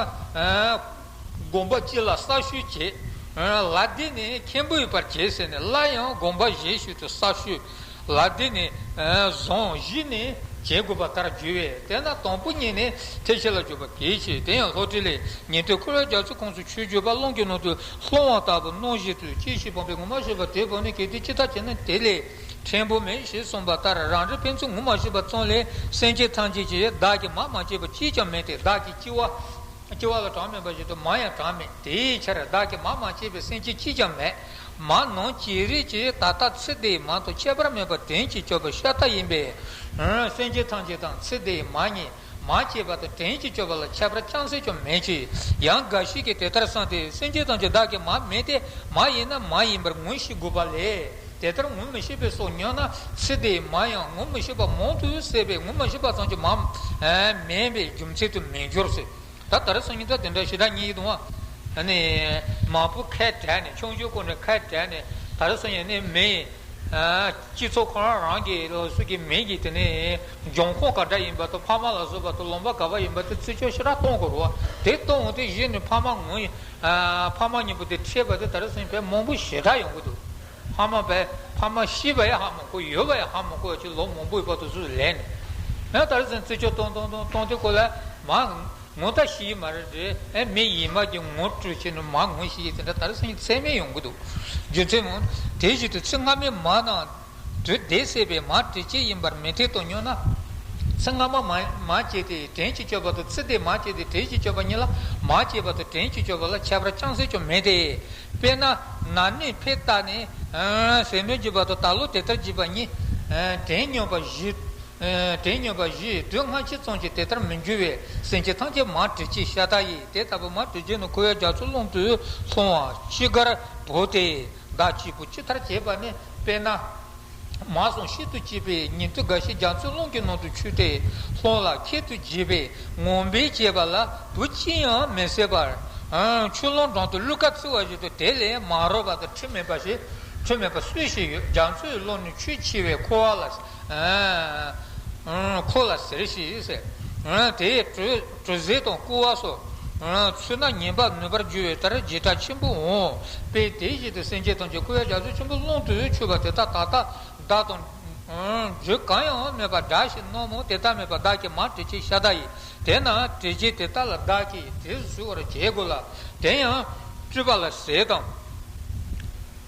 Speaker 1: དགོངས་པ་གཅིག་ལ་གསར་ཞུ་བྱས། ལ་འདི་ནི་མཁན་པོའི་བར་བྱས་ཟེར་ནས་སླར་ཡང་དགོངས་པ་གཞན་ཞིག་ཏུ་གསར་ཞུ། ལ་དེ་ནི་གཟུངས་བཞི་ནི་བྱེད་དགོས་པ་ལྟར་བརྗོད་བས་དེས་ན་དང་པོ་གཉིས་ནི་ཐེག་ཆེན་ལ་བརྗོད་པ་གལ་ཆེ་དེ་ཡང་ལྷོ་བྲིས་ལས་ཉན་ཐོས་འཁོར་བའི་རྒྱ་མཚོའི་ཁོངས་སུ་ཆོས་བརྗོད་པ་རླུང་གི་ནང་དུ་ལྷུང་བ་ལྟ་བུ་སྣང་བཞིན་དུ་སྐྱེ་ཤི་སྤངས་པའི་ངོ་མ་ཤེས་པ་དེ་བོར་ནས་གལ་ཏེ་ཅི་ལྟར་བྱས་ན་དེ་ལས་ཕྲན་བུ་མེད་ཞེས་གསུངས་པ་ལྟར་རང་རིག་ཕན་ཚུན་ངོ་མ་ཤེས་པ་ཙམ་ལས་སེམས་ཅན་ཐམས་ཅད་ཀྱིས་བདག་གི་མ་མ་སྐྱེས་པ་གཅིག་ཀྱང་མེད་དེ་བདག་གི་སྐྱེ་བ་ལ་གྲངས་མེད་པ་བཞིན་དུ་མ་ཡང་གྲངས་མེད་དེའི་ཕྱིར་བདག་གི་མ་མ་སྐྱེས་པའི་སེམས་ཅན་གཅིག་ཀྱང་མེད། མ་ནོར་གྱི་རིགས་ཀྱི་ད་ལྟ་ཚེ་འདི་མ་དང་ཁྱད་པར་མེད་པར་དྲན་གྱིས་སྤྱོད་པ་ཤ་སྟག་ཡིན་པས། སེམས་ཅན་ཐམས་ཅད་དང་ཚེ་འདི་མ་གཉིས་མ་སྐྱེས་པ་དང་དྲན་གྱིས་སྤྱོད་པ་ལ་ཁྱད་པར་ཅང་སེ་ཅུང་མེད་ཀྱི། ཡང་འགའ་ཞིག་གིས་དེ་ལྟར་བསམས་ཏེ་སེམས་ཅན་ཐམས་ཅད་བདག་གི་མ་མེད་དེ་མ་ཡིན་ན་མ་ཡིན་པར་ངོ་ཤེས་དགོས་པ་ལས་དེ་ལྟར་ངོ་མི་ཤེས་པས་སོ་སྙམ་ན་ཚེ་འདི་མ་ཡང་ངོ་མི་ཤེས་པ་མང་དུ་བསད་པས་ངོ་མ་ཤེས་པ་ཙམ་གྱིས་མ་མེད་པའི་རྒྱུ་མཚན་དུ་མི་འགྱུར། ད་ད་རེས་སོང་ཉིན་ད་དེ་འདྲ་ཞེ་དྲག་གཉིས་ཡིད་དུ་འོང། མང་པོ་ཁ་བྲལ་ནས་ཆུང་ཆུང་སྐོར་ནས་ཁ་བྲལ་ནས་ད་རེས་སོང་ཡང་ནི་མི། སྤྱི་ཚོགས་ཁོ་རང་རང་གི་སུ་གི་མིང་གི་དེ་ནས་འབྱུང་ཁུངས་ག་འདྲ་ཡིན་པ་དང་ཕ་མ་ལ་སོགས་པ་དང་ལོང་པ་ག་བ་ཡིན་པ་དེ་བརྩི་འཇོག་ཞེ་དྲག་གཏོང་དགོས་རོ། དེ་གཏོང་འོང་དེ་གཞི་ནས་ཕ་མ་ངོ། ཕ་མ་གཉིས་པོ་དེ་འཕྲད་པ་དེ་ད་རེས་སོང་ཡང་ཕལ་མང་པོ་ཞེ་དྲག་ཡོང་གི་འདུག། ཕ་མ་བས་ཕ་མ་ཤི་བའི་ཧ་མོ་ཁོ་ཡོད་པའི་ཧ་མོ་ཁོ་ཅི་ལོ་མང་པོའི་བར་དུ་སུ་ལས་ནས་ཨེ་དར་ཟན་རྩི་ཆོ་སྟོང་སྟོང་སྟོང་སྟོང་དེ་ཁོ་ལ་མ་ངུ་ད་ཤི་མ་རེད་རེད་ཨེ་མི་ཡིན་མ་གྱི་ངུ་སྤྲོད་བྱས་ནས་མ་ངུ་ཤི་དེ་འདྲ་དར་ཟན་གྱི་ཚད་མས་ཡོང་གི་འདུག་རྒྱུ་མཚན་མོ་དེ་བཞིན་དུ་ཚེ་སྔ་མའི་མ་དང། དུས་བདེ་བསད་པའི་མ་དྲི་སྐྱེས་ཡིན་པར་མི་ཐེ་གཏོགས་སྙོན་ན། ཚེ་སྔ་མ་མ་མ་སྐྱེས་ཏེ་དྲན་གྱི་སྤྱོད་པ་དང་ཚེ་འདས་མ་སྐྱེས་ཏེ་དྲན་གྱི་སྤྱོད་པ་གཉིས་ལ་མ་སྐྱེས་པ་དང་དྲན་གྱི་སྤྱོད་པ་ལ་ཁྱད་པར་ཅང་སེ་ཅུང་མེད་དེ། དཔེར་ན། ན་ནིང་འཕེལ་རྟགས་ནི། ཟས་སྣོད་བརྒྱུད་པ་དང་ད་ལོ་དེ་ལྟར་བརྒྱུད་པ་གཉིས། དེའི་སྨྱོན་པ་བཞི། དེའི་སྨྱོན་པ་བཞི་དུས་སྔ་ཕྱི་ཙམ་གྱིས་དེ་ལྟར་མི་འགྱུར་བས་སེམས་ཅན་ཐམས་ཅད་མར་དྲི་ཆེ་ཤ་སྟག་ཡིན་དེ་ལྟ་བུའི་མར་དྲི་ཆེ་ནི་ཁུ་བའི་རྒྱ་མཚོའི་ཀློང་དུ་ལྷུང་བ་ཅི་དགར་བོར་ཏེ་བདག་གཅིག་པུ་ཅི་ལྟར་བྱེད་པ་ནི་དཔེར་ན། མ་སོང་ཤིན་ཏུ་སྐྱིད་པའི་ཉིན་ཐོ་འགའ་ཞིག་རྒྱ་མཚོའི་ཀླུང་གི་ནང་དུ་ཆུད་དེ་ལྷོང་ལ་ཁད་དུ་བརྗེས་པས་ངོ་འབེབས་བྱས་པ་ལ་བུ་ཅི་ཡང་མི་བསད་པར། ཆུ་ཀླུང་བྲང་དུ་གླུ་གར་བཙིར་བ་བཞིན་དུ་དེ་ལས་མ་རོལ་བ་དང་ཁྲིམས་མེད་པ་ཞིག་སུས་ཤེས་ཡོད་རྒྱ་མཚོའི་ཀླུང་ནི་ཆུས་ཕྱེ་བས་ཁོ་བ་ལ་ཟེར། ཁོ་ལ་ཟེར་ཞེས་ཟེར། དེའི་དྲོད། དྲོད་ཟས་དང་སྐུ་བ་སོགས། ཚོས་ན་ཉེན་པར་ནུས་པར་འགྱུར་བའི་ལྟར་རྗེས་གྲགས་ཆེན་པོ་འོང་བས་དེ་བཞིན་དུ་སེམས་ཅན་ཐམས་ཅད་སྐུ་བའི་རྒྱ་མཚོ་ཆེན་པོའི་ཀློང་དུ་ཆུད་པ་དེ་དག་ད་ལྟ་བདག་དང། རྒྱུད་གང་ཡང་མེད་པར་བདག་བཞིན་ནོ་མོ་དེ་དག་མེད་པར་བདག་གིས་མ་བྲི་ཅིག་ཤ་དག་ཡིན་དེས་ན་བྲི་རྗེས་དེ་དག་ལ་བདག་གིས་དེས་བཟུད་བར་བྱེད་དགོས་ལ། དེ་ཡང། སྤྲུལ་པ་ལ་ཟས་དང།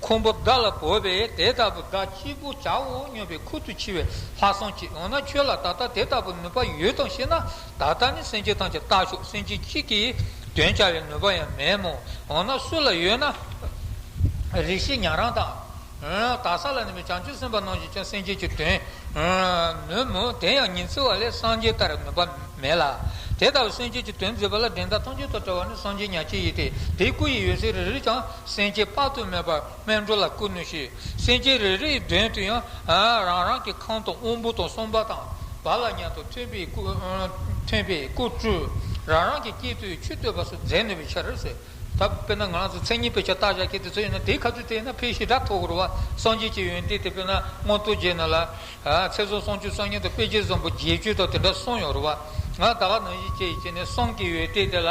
Speaker 1: ཁུང་བུ་བདག་ལ་བོར་བས་དེ་ལྟ་བུ་བདག་གཅིག་པུ་བྱའོ་སྙམ་པའི་ཁུར་དུ་འཁྱེར་བའི་ལྷ་སྲུང་གིས་འོ་ན་ཁྱོད་ལ་ད་ལྟ་དེ་ལྟ་བུའི་ནུས་པ་ཡོད་དམ་ཞེ་ན། ད་ལྟ་ནི་སེམས་ཅན་ཐམས་ཅད་བརྟག་ཆོག་སེམས་ཅན་གཅིག་གིས་དོན་བྱ་བའི་ནུས་པ་ཡང་མེད་མོད་འོ་ན་སུ་ལ་ཡོད་ན། རིགས་བཞི་ཉན་རང་དང། དག་ས་ལ་གནས་པའི་བྱང་ཆུབ་སེམས་དཔའ་རྣམས་ཀྱིས་ཀྱང་སེམས་ཅན་གྱི་དོན། ནུས་མོད་དེ་ཡང་ཉིན་བརྩི་བ་ལས་སངས་རྒྱས་ལྟར་ནུས་པ་མེད་ལ། དེ་ལྟ་བུའི་སེམས་ཅན་གྱི་དོན་མཛད་པ་ལ་འགྲན་ཟླ་ཐམས་ཅད་དང་བྲལ་བ་ནི་སངས་རྒྱས་ཉག་གཅིག་ཡིན་ཏེ་དེའི་སྐུ་ཡི་ཡོད་ཚད་རེ་རེས་ཀྱང། སེམས་ཅན་དཔག་ཏུ་མེད་པ་སྨན་འགྲོ་ལ་བསྐུར་ནུས་ཤིང་སེམས་ཅན་རེ་རེའི་མདུན་དུ་ཡང་རང་རང་གི་ཁང་དང་དབང་པོ་དང་གསུམ་པ་དང་བ་ལ་མཉམ་དུ་མཐུན་པའི་སྐུ་སྤྲུལ་རང་རང་གི་དཀྱིལ་དུ་ཆུ་སྟོད་པ་སོགས་མཛད་ནུས་པའི་ཕྱིར། དཔེར་ན་ང་རང་ཚོ་མཚན་ཉིད་དཔེ་ཆ་བཏགས་བཞག་གི་དེ་ཚོ་ཡིན་ན་དེའི་ཁ་ཚུལ་དེ་ན་ཕས་ཞི་དྲག་ཐོག་རུ་བ་སངས་རྒྱས་ཀྱི་ཡོན་ཏན་དེ་དཔེར་ན་སྔོན་རྟོགས་རྗེས་ན་ལ། ཚེ་གཟུངས་སྲོང་བཅུ་གསང་སྙིང་དང་དཔེ་བྱད་བཟང་པོ་བརྒྱད་ཅུ་དང་དེ་འདྲ་གསུངས་ཡོད་རུ་བ། ང་ད་ག་ནང་བཞིན་བྱས་ཡིན་ཅེ་ནས་གསུངས་ཀྱི་ཡོད་དེ་དེ་ལ།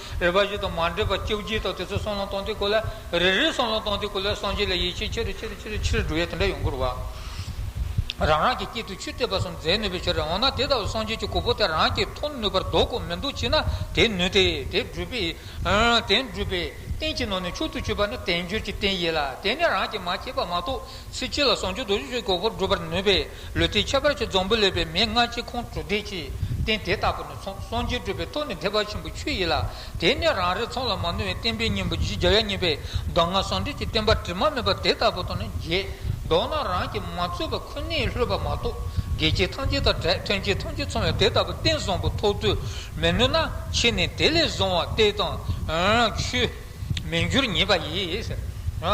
Speaker 1: རིག་པ་བཞི་དང་མ་འདྲེས་པ་བཅྭོ་བརྒྱད་དང་དེ་ཚོ་གསང་སློང་སྟོང་སྟེ་གོ་ལ། རེ་རེའི་གསང་སློང་སྟོང་སྟེ་གོ་ལའི་སངས་རྒྱས་ལ་ཡིད་ཆེས་ཆེ་རུ་ཆེ་རུ་ཆེ་རུ་ཕྱིར་འགྲོ་བས་དེ་འདྲ་ཡོང་གི་རུ་བ། རང་རང་གི་དཀྱིལ་དུ་ཆུ་གཏད་པ་གསུམ་འཛད་ནུས་པའི་ཕྱིར་འོ་ན་དེ་ལྟ་བུའི་སངས་རྒྱས་ཀྱི་གོ་འཕོ་དེ་རང་གིས་ཐོབ་ནུས་པར་འདོག་གོ་མི་འདོག་ཅེ་ན་དེ་ནུས་ཏེ་དེ་སྒྲུབ་པའི། དེ་སྒྲུབ་པའི། རྟེན་གྱི་ནང་ནས་མཆོག་ཏུ་སྤྱོད་པ་ནི་དལ་འབྱོར་གྱི་རྟེན་ཡིན་ལ་དེ་ནི་རང་གིས་མ་བྱས་པ་མ་གཏོགས་ཚེ་གཅིག་ལ་སངས་རྒྱས་རྡོ་རྗེ་ཆོས་ཀྱི་གོ་འཕོ་སྒྲུབ་པར་ནུས་པས། ལུས་ཏེ་ཁྱད་པར་གྱི་རྫོང་བུ་ལས་པའི་མེས་སྔ་ཕྱི་ཁོང་ཁྲོ་བགྲད་ཀྱིས་བསྟན་དེ་ལྟ་བུ་ནི་ཚོང་ཟོང་རྒྱས་སྤྲོས་པའི་ཐོག་ནས་ཐེག་པ་ཆེན་པོའི་ཆོས་ཡིན་ལ་དེ་ནས་རང་རེ་ཚང་ལ་མ་ནོར་བའི་བསྟན་པའི་སྙིང་པོ་བཞི་བརྒྱ་ཡ་གཉིས་པའི་གདམས་ངག་གསང་འདུས་ཀྱི་བསྟན་པ་དྲི་མ་མེད་པ་དེ་ལྟ་བུ་དང་ནི་རྗེས་ལྡོག་ན་རང་གིས་མ་རྩོལ་བ་ཁོ་ནའི་ལྷོད་པ་མ་གཏོགས་དགེ་སྐྱེས་ཐམས་ཅད་དང་བྲལ་ཐོན་སྐྱེད་ཐམས་ཅད་ཚང་བའི་དེ་ལྟ་བུ་བསྟན་བཟང་པོ་ཐོག་ཏུ་མི་ནུས་ན་ཕྱིས་ནས་དེ་ལས་བཟང་བ་སྟེ་དང། ཆོས། མི་འགྱུར་ཉིད་པ་ཡིས།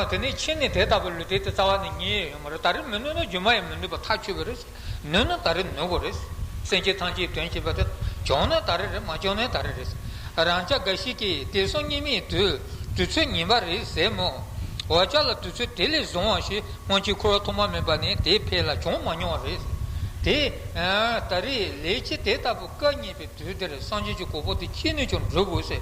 Speaker 1: དེ་ནས་ཕྱིས་ནི་དེ་ལྟ་བུ་ལུས་དེ་ལྟའི་རྩ་བ་ནི་གཉིས་ཡོད་མོད་ད་རེས་མི་ནུས་ན་རྒྱུ་མ་ཡིས་མི་ནུས་པ་ཐག་ཆོད་པས་རེས་ནུས་ན་ད་རེས་ནུས་པ་རེད། སེམས་ཅན་ཐམས་ཅད་དོན་བྱེད་པ་དེ་བྱུང་ན་ད་རེས་རེད་མ་བྱུང་ན་ད་རེས་རེད། རང་ཅག་འགའ་ཞིག་གིས་དེ་གསུམ་གཉིས་མེད་དུ་དུས་ཚོད་ཉིད་པ་རེད་ཟེར་མོད། འོ་ཅག་ལ་དུས་ཚོད་དེ་ལས་བཟུང་བ་ཞིག་སྔོན་ཆད་འཁོར་བ་ཐོག་མ་མེད་པ་ནས་དེའི་ཕས་ལ་བྱུང་མ་མྱོང་བ་རེད། དེ་ད་རེས་ལས་ཀྱི་དེ་ལྟ་བུ་སྐད་གཉིས་པའི་དུས་འདིར་སངས་རྒྱས་ཀྱི་གོ་འཕོ་དེ་ཅི་ནུས་ཀྱང་བསྒྲུབ་དགོས་ཟེར།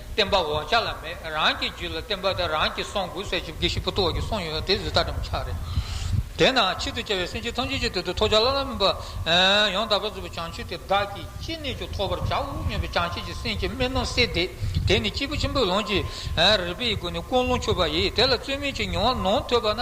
Speaker 1: བསྟན་པ་འོག་ཆ་ལ་མེད་རང་གི་རྒྱུད་ལ་བསྟན་པ་དེ་རང་གི་གསུང་དགུ་བསལ་བཅུ་དགེ་བཤེས་བུ་སྟོད་འོག་གི་གསུང་ཡོད་དེ་བཟོད་ལྟ་དྲི་མ་ཆགས་རེད། དེས་ན་ཆེད་དུ་བཅའ་བའི་སེམས་ཅན་ཐམས་ཅད་ཀྱི་དོད་དུ་ཐོགས་ཆ་ལ་ལ་མིན་པ། ཡང་དག་པར་རྫོགས་པའི་བྱང་ཆུབ་དེ་བདག་གིས་ཅི་ནས་ཀྱང་ཐོབ་པར་བྱའོ་སྙམ་པའི་བྱང་ཆུབ་ཀྱི་སེམས་ཀྱི་སྨོན་ལམ་གསལ་འདེབས་དེ་ནི་སྐྱེས་བུ་ཆེན་པོའི་ལོངས་སྤྱོད་རིག་པའི་སྒོ་ནས་ཀུན་སློང་ཆོད་པ་ཡིས་དེ་ལ་རྩོད་མེད་ཀྱི་མྱོང་བ་ནང་ཐོས་པ་ན།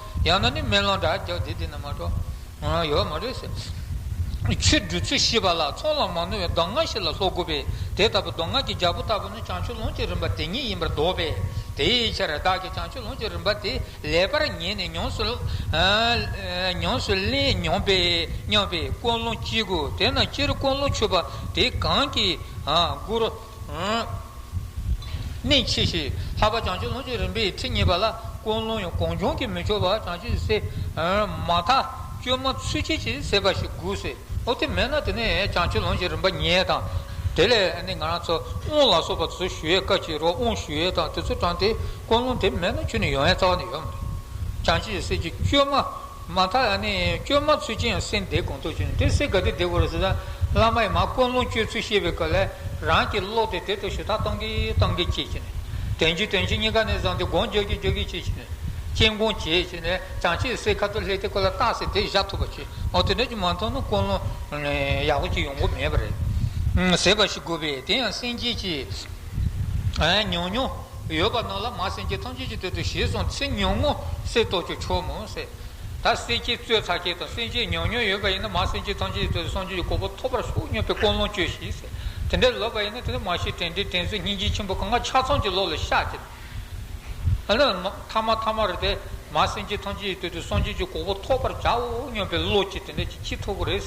Speaker 1: ཡང་ན་ནི་མེ་ལོང་དགྲ་བགེགས་བདེ་སྡུག་ན་མ་འགྲོ། ཡོད་མ་རེད། ཆོས་བསྒྲུབ་ཚུལ་ཤེས་པ་ལ་ཚོགས་ལ་མ་ནོར་བའི་གདམས་ངག་ཞིག་ལ་ལྷོ་དགུ་པའི་དེ་ལྟ་བུ་གདམས་ངག་གི་རྒྱལ་པོ་ལྟ་བུ་ནི་བྱང་ཆུབ་ལོངས་སྤྱོད་རིམ་པ་དེ་ཉིད་ཡིན་པར་འདོགས་པས་དེའི་ཕྱིར་བདག་གིས་བྱང་ཆུབ་ལོངས་སྤྱོད་རིམ་པ་དེ་ལེགས་པར་ཉན་ནས་ཡོངས་སུ་བརླན་མྱོང་པས་སྙམ་པའི་ཀུན་སློང་སྐྱེ་དགོས་དེས་ན་སྤྱིར་ཀུན་སློང་ཆོས་པ་དེ་གང་གིས་བསྒུར། ནི་ཆེ་ཞེས་ལྷག་པ་བྱང་ཆུབ་ལྷུན་གྱི་རིམ་པའི་ཁྲིད་གཉིས་པ་ལ་ཀུན་སློང་ཡང་གང་བྱུང་གིས་མི་འཆོར་བར་བྱང་ཆུབ་སེམས་དཔའི་མ་མཐའ་བཅོས་མ་ཚུལ་ཁྲིམས་ཀྱི་སེམས་དཔའ་ཞིག་དགོས་སེ་འོ་དེ་མེད་ན་དེ་ནི་བྱང་ཆུབ་ལྷུན་གྱི་རིམ་པ་ཉེས་དང། དེ་ལས་ནི་ང་རང་ཚོ་དབུང་ལ་སོགས་པ་དེ་ཚོ་ཞུ་ཡས་བཀའ་བཅད་རོགས་དབུང་ཞུ་ཡས་དང་དེ་ཚོ་དྲངས་ཏེ་ཀུན་སློང་དེ་མེད་ན་ཁྱོད་ནི་ཡོང་ཡས་རྩ་བ་ནས་ཡོད་མ་རེད་བྱང་ཆུབ་སེམས་ཀྱི་བཅོས་མ། མ་ཐག་ཡང་ནི་བཅོས་མ་ཚུལ་ཅན་ཡང་སེམས་བདེ་གང་ཐུབ་བྱུང་དེ་སྲིད་དགའ་བདེ་བདེ་བོར་བཟོས་ན་བླ་མ་ཡི་མ་ཀུན་སློང་བཅོས་ཚུལ་ཤེས་པའི་སྐབས་ལས་རང་གིས་ཀློག་སྟེ་དེ་ལྟར་ཞུ་དག་གཏང་གི་གཏང་གི་བྱེད་ཀྱི་ནས། དོན་གྱིས་དོན་གྱིས་གཉིས་ཀ་ནས་བཟང་སྟེ་དགོངས་རྒྱོགས་ཀྱིས་རྒྱོགས་ཀྱིས་བྱེད་ཀྱི་ནས། སྤྱན་དགོངས་བྱས་བྱས་ནས་བྱང་ཆེ་སའི་ཁ་ཐུར་ལྷས་དེ་ཀོ་ལ་བཏགས་ཚེ་དེ་བཞག་ཐུབ་པ་བྱོས་འོ་དེ་འདྲ་ཅིག་མ་མཐོང་ན་ཀུན་སློང་ཡག་པོ་ཅིག་ཡོང་གི་མེད་པ་རེད། ཟེར་བ་ཞིག་དགོས་པས་དེ་ཡང་སེམས་སྐྱིད་ཀྱིས། ཉོ་ཉོ། ཡོད་པ་རྣམས་ལ་མ་སེམས་ཀྱིས་ཐམས་ཅད་ཀྱི་དོན་དུ་བྱས་སོང་ཚེ་ཉུང་ངུ་གསེར་རྟོག་གི་ཆོག་མོད། ད་གསེར་ཁྱེད་གཙོས་ཚྭ་ཁྱེད་དང་སེམས་ཅན་ཉུང་ཉུང་ཡོད་པ་ཡིན་ན་མ་སེམས་ཀྱིས་ཐམས་ཅད་ཀྱི་དོན་དུ་སངས་རྒྱས་ཀྱི་གོ་འཕོ་ཐོབ་པར་ཤོག་སྙམ་པའི་ཀུན་སློང་བཅོས་ཤིག། དེ་འདྲ་ལོས་པ་ཡིན་ན་དེ་འདྲ་མ་བྱེད་དྲན་དྲན་དྲན་གཟོད་སྙིང་རྗེ་ཆེན་པོ་གང་ག་ཆ་ཚང་གི་བློ་ལ་བཤགས་ཀྱི། མཐའ་མ་ཐ་མ་རེད་དེ། མ་སེམས་ཀྱིས་ཐམས་ཅད་ཀྱི་དོན་དུ་སངས་རྒྱས་ཀྱི་གོ་འཕོ་ཐོབ་པར་བྱའོ་སྙམ་པའི་བློ་གྱིས་དེ་འདྲ་བྱེད་ཅི་ཐུབ་པོ་རེད།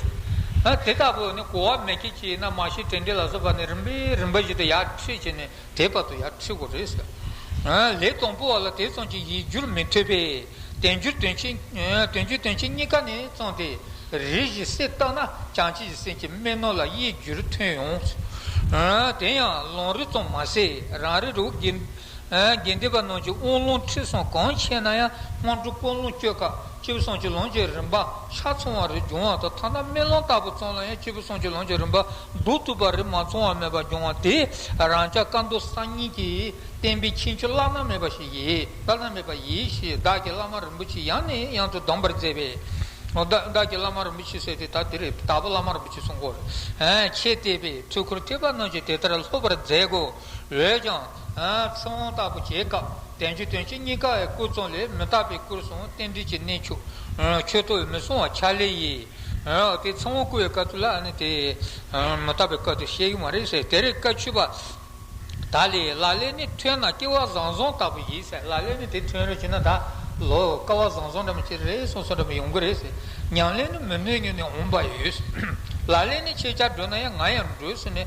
Speaker 1: དེ་ལྟ་བུ་ནི་གོ་བ་མེད་ཀྱི་ཅི་ཡིན་ན་མ་བྱེད་དྲན་དྲན་ལ་བཟོད་པ་ནི་རིམ་པས་རིམ་པ་བཞིན་དུ་ཡར་ཁྲིད་བྱས་ནས། དེའི་བར་དུ་ཡང་འཁྲིད་དགོས་རེད། ལས་དང་པོ་བ་ལ་དེ་ཙམ་གྱི་ཡིད་འགྱུར་མི་ཐོས་པས། དོན་གྱིས་དོན་བྱེད་གཉིས་ཀ་ནས་བརྩམས་ཏེ། རེ་ཞིག་སེ་བཏགས་ན་ཅང་ཅེ་ཡི་སེམས་ཀྱི་སྨྲེ་སྣང་ལ་ཡིད་འགྱུར་ཐོན་ཡོང། དེ་ཡང་ལོང་རེ་ཙམ་མ་ཟད་རང་རེ་རུ་དགེ་འདས་པ་རྣམས་ཀྱི་དབུགས་ལོང་འཁྲིད་སོང་གང་ཆེ་ན་ཡང་སྔོན་འགྲོ་སྤོ་ལོང་སྤྱོད་ཁག་སྤྱི་བོ་སྲུང་ཆོས་ལོངས་སྤྱོད་རིམ་པ་ཆ་ཚང་བ་རེ་འབྱུང་བ་དང་ཐ་ན་སྨིན་ལོང་ལྟ་བུ་ཙམ་ལ་ཡང་སྤྱི་བོ་སྲུང་ཆོས་ལོངས་སྤྱོད་རིམ་པ་བདུག་རྩུབ་པ་རིགས་མ་ཚང་བ་མེད་པར་འབྱུང་བ་དེ་རང་ཅག་བཀའ་མདོ་གསར་རྙིང་གི་བསྟན་པའི་ཁྱད་ཆོས་བླ་ན་མེད་པ་ཞིག་ཡིན་བླ་ན་མེད་པ་ཡིན་ཞེས་བདག་གི་བླ་མ་རིན་པོ་ཆེ་ཡང་ནས་ཡང་དུ་གདམས་པར་མཛད་པས། བདག་གི་བླ་མ་རིན་པོ་ཆེ་ཟེར་ཏེ་ད་དེ་རེད་དྭགས་པོ་བླ་མ་རིན་པོ་ཆེ་སྲུང་འཁོར་ཆེ་བལྟས་པས་ཚོལ་འཁོར་ཐེག་པ་རྣམས་ཀྱིས་དེ་ལྟར་ལྷོད་པར་མཛད་གོ། འོད་ཀྱང། ཁྲོ་བོང་ལྟ་བུ་བྱེད་སྐབས་བདེན་བརྗོད་དོན་གྱི་གཉིས་ཀ་འི་སྐུ་གཙོ་ལས་མི་རྟག་པའི་སྐུར་བཟུང་རྟེན་འབྲེལ་གྱི་གནས་འཆུག། མཆོད་བསྟོད་མི་གསུང་བ་ཕྱག་ལས་ཡིན། དེ་ཚང་བོ་སྐུ་འི་བཀའ་ཐུགས་ལ་ནི་དེ། མི་རྟག་པའི་སྐབས་དེ་བཤད་ཀྱི་མ་རེད་ཟེར་དེར་བཀའ་ཆུད་པ། ད་ལས་ལ་ལས་ནི་ཐོན་ན་སྐྱེ་བ་བཟང་བཟང་ལྟ་བུ་ཡིན་ཟེར་ལ་ལས་ནི་དེ་ཐོན་རེ་བྱེད་ན་ད་ལོ་སྐ་བ་བཟང་བཟང་འདྲ་མི་ཁྱེར་རེ་སོང་སོང་འདྲ་མི་ཡོང་གི་རེད་ཟེར་ཉང་ལས་ནི་མི་ནུས་ཉུ་ནས་འོང་པ་ཡོད། ལ་ལས་ནི་ཁྱེད་ཅག་འགྲོ་ན་ཡང་ང་ཡང་འགྲོས་ཟེར་ནས།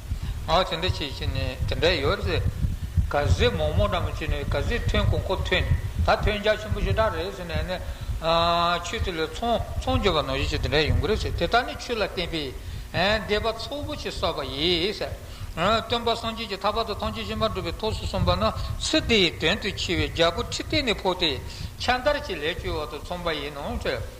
Speaker 1: ང་དེ་འདྲ་བྱེད་ཀྱི་ནི་དེ་འདྲ་ཡོད་རེད། ག་ཟེ་མོག་མོག་འདྲ་མོ་བྱས་ནས་ག་ཟེ་ཐོན་གོང་ཁོ་ཐོན་ད་ཐོན་རྒྱ་ཆེན་པོ་ཞེ་དྲག་རེད་ཟེར་ནས་ནི། ཆོས་དེ་ལས་ཚོང་ཚོང་རྒྱོབ་པ་ནོར་བྱེད་ཅིག་དེ་འདྲ་ཡོང་གི་རེད་ཟེར་དེ་དག་ནི་ཆོས་ལ་བརྟེན་པའི་སྡེ་པ་ཚོགས་པོ་ཆེ་སོགས་པ་ཡིན། སྟོན་པ་སངས་རྒྱས་ཀྱི་ཐག་བར་དུ་ཐམས་ཅད་ཤེས་པར་འགྲུབ་པའི་ཐོགས་སུ་གསུངས་པ་ན་ཚུལ་དེའི་དོན་དུ་འཆི་བའི་རྒྱལ་པོ་ཁྲི་སྟེགས་ནས་འཕོ་སྟེ་ཕྱག་འདར་གྱིས་ལས་བཅོལ་བ་དང་མཚུངས་པ་ཡིན་ནོ།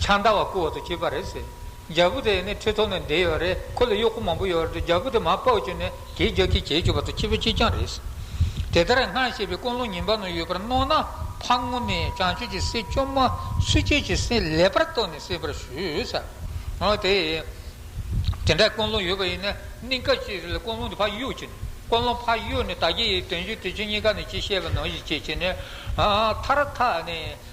Speaker 1: ཆང་ད་བ་སྐུ་འོག་ཏུ་སྐྱེས་པ་རེད། རྒྱལ་པོ་དེ་ནི་ཁྲི་ཐོག་ནས་འདས་ཡོད་རེད། ཁོ་ལ་གཡོག་པོ་མང་པོ་ཡོད་རེད། རྒྱལ་པོ་དེ་མར་པའོ་ཅོ་ནས་གྱེས་རྒྱག་གིས་གྱེས་བཅུག་པ་དང་ཁྱི་ཕོ་གཅིག་རྐྱང་རེད། དེ་ལྟར་སྔར་བཤད་པའི་ཀུན་སློང་ཉིན་པ་ན་ཡོད་པར་སྣང་ན་ཕ་ངོ་ནས་བྱང་ཆུབ་ཀྱི་སྲས་བཅོམ་མ་སུ་སྐྱེས་ཀྱི་སྲས་ལེགས་པར་རྟོགས་ནས་སྲིད་པར་ཞུས། དེ་དེ་འདྲ་ཀུན་སློང་ཡོད་པ་ཡིན་ན་གནས་སྐབས་ཅི་རིགས་ལ་ཀུན་སློང་དེ་ཕ་གཡོག་གྱིས་ནི་ཀུན་སློང་ཕ་གཡོག་ནི་དར་རྒྱས་ཡིས་དོན་བརྒྱུད་དུས་ཆེན་གཉིས་ཀ་ནས་ཅི་བཤད་པ་ནང་བཞིན་བྱེད་ཅེས་ནས་མཐར་ཐག་ནས།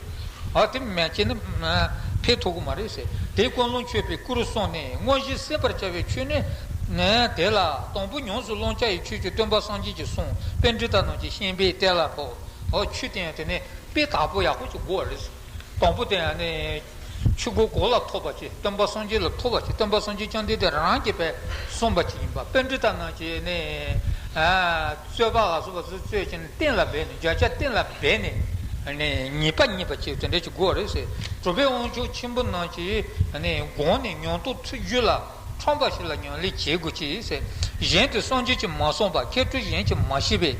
Speaker 1: ཨ་དེ་མན་ཆད་ནི། ཕས་ཐོག་གི་མ་རེད་ཟེར། དེས་ཀུན་སློང་མཆོད་པའི་སྐུ་རུ་སོང་ནས་དངོས་གཞི་སྲིད་པར་བྱ་བའི་ཆོས་ནི། དེ་ལ། དང་པོ་ཉམས་སུ་བླང་བྱ་ཡི་ཆོས་ཀྱི་སྟོན་པ་སངས་རྒྱས་ཀྱི་གསུང་དཔེ་འདི་དག་ནང་གི་ཤན་པའི་གཏེར་ལ་ཕོག། ཆུ་སྟེང་དེ་ནི་དཔེ་དག་པོ་ཡག་པོ་ཅིག་གོ་བ་རེད། དང་པོ་དེ་ཡང་ནི། ཆུ་སྒོ་གོ་ལ་ཐོབ་པ་ཅིག་སྟོན་པ་སངས་རྒྱས་ལ་ཐོབ་པ་ཅིག་སྟོན་པ་སངས་རྒྱས་ཀྱང་འདི་དེ་རང་རང་གི་བས་གསུངས་པ་ཅིག་ཡིན་པ་དཔེ་འདི་དག་ནང་གི་ནི། རྩོད་པ་ལ་སོགས་པ་སུ་རྩོད་ཅིང། སྟན་ལ་སྦས་ནས་བརྒྱ་ཆ་སྟན་ལ་སྦས་ནས། ཉེས་པ་རྙེད་པར་བྱེད་དེ་འདྲ་ཅིག་དགོས་རེད་ཟེར། གྲུབ་པའི་དབང་ཕྱུག་ཆེན་པོ་རྣམས་ཀྱིས། དགོངས་ནས་མྱོང་རྟོགས་ཚུལ་བརྒྱུད་ལ། ཁྲོམ་པ་ཞིག་ལ་མྱང་ལས་བྱེད་དགོས་ཅིག་ཟེར། གཞན་དུ་སངས་རྒྱས་ཀྱིས་མ་གསུངས་པ་མཁས་གྲུབ་གཞན་གྱིས་མ་ཤེས་པས།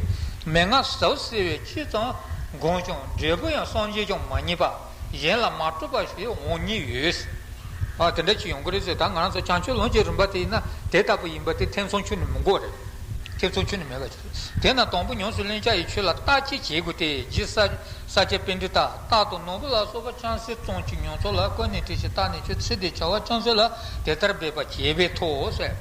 Speaker 1: མན་ངག་ཟབ་གསལ་བའི་ཕྱིར་ཙམ། དགོངས་ཀྱང་འབྲས་བུ་ཡང་སངས་རྒྱས་ཀྱང་མ་རྙེད་པ། གཞན་ལ་མ་གྲུབ་པ་ཞིག་འོང་ཉེན་ཡོད། དེ་འདྲ་ཅིག་ཡོང་གི་རེད་ཟེར། ད་ང་རང་ཚོ་བྱང་ཆུབ་ལོངས་སྤྱོད་རིམ་པ་དེ་ཡིན་ན་དེ་ལྟ་བུ་ཡིན་པ་དེ་ཐེ་ཚོམ་ཆུང་ནས་མི་འགོ་རེད། ཐེ་ཚོམ་ཆུང་ནས་མེད་པ། དེས་ན་དང་པོ་ཉམས་སུ་ལེན་བྱ་ཡི་ཆོས་ལ་ལྟ་ཅི་བྱེད་དགོས་ཏེ་རྗེ་ས་སྐྱ་དཔེ་འབྲི་སྟག་རྟག་ཏུ་ནོར་བུ་ལ་སོགས་པ་ཅང་སེ་བཙོང་གཅིག་མྱོང་ཚོར་ལ་བཀོད་ནས་དྲི་ཞིག་བཏགས་ནས་ཁྱོད་ཚེ་འདིའི་བྱ་བ་ཅང་སེ་ལ་དེ་ལྟར་འབད་པ་བྱས་པས་ཐོག་ཟད།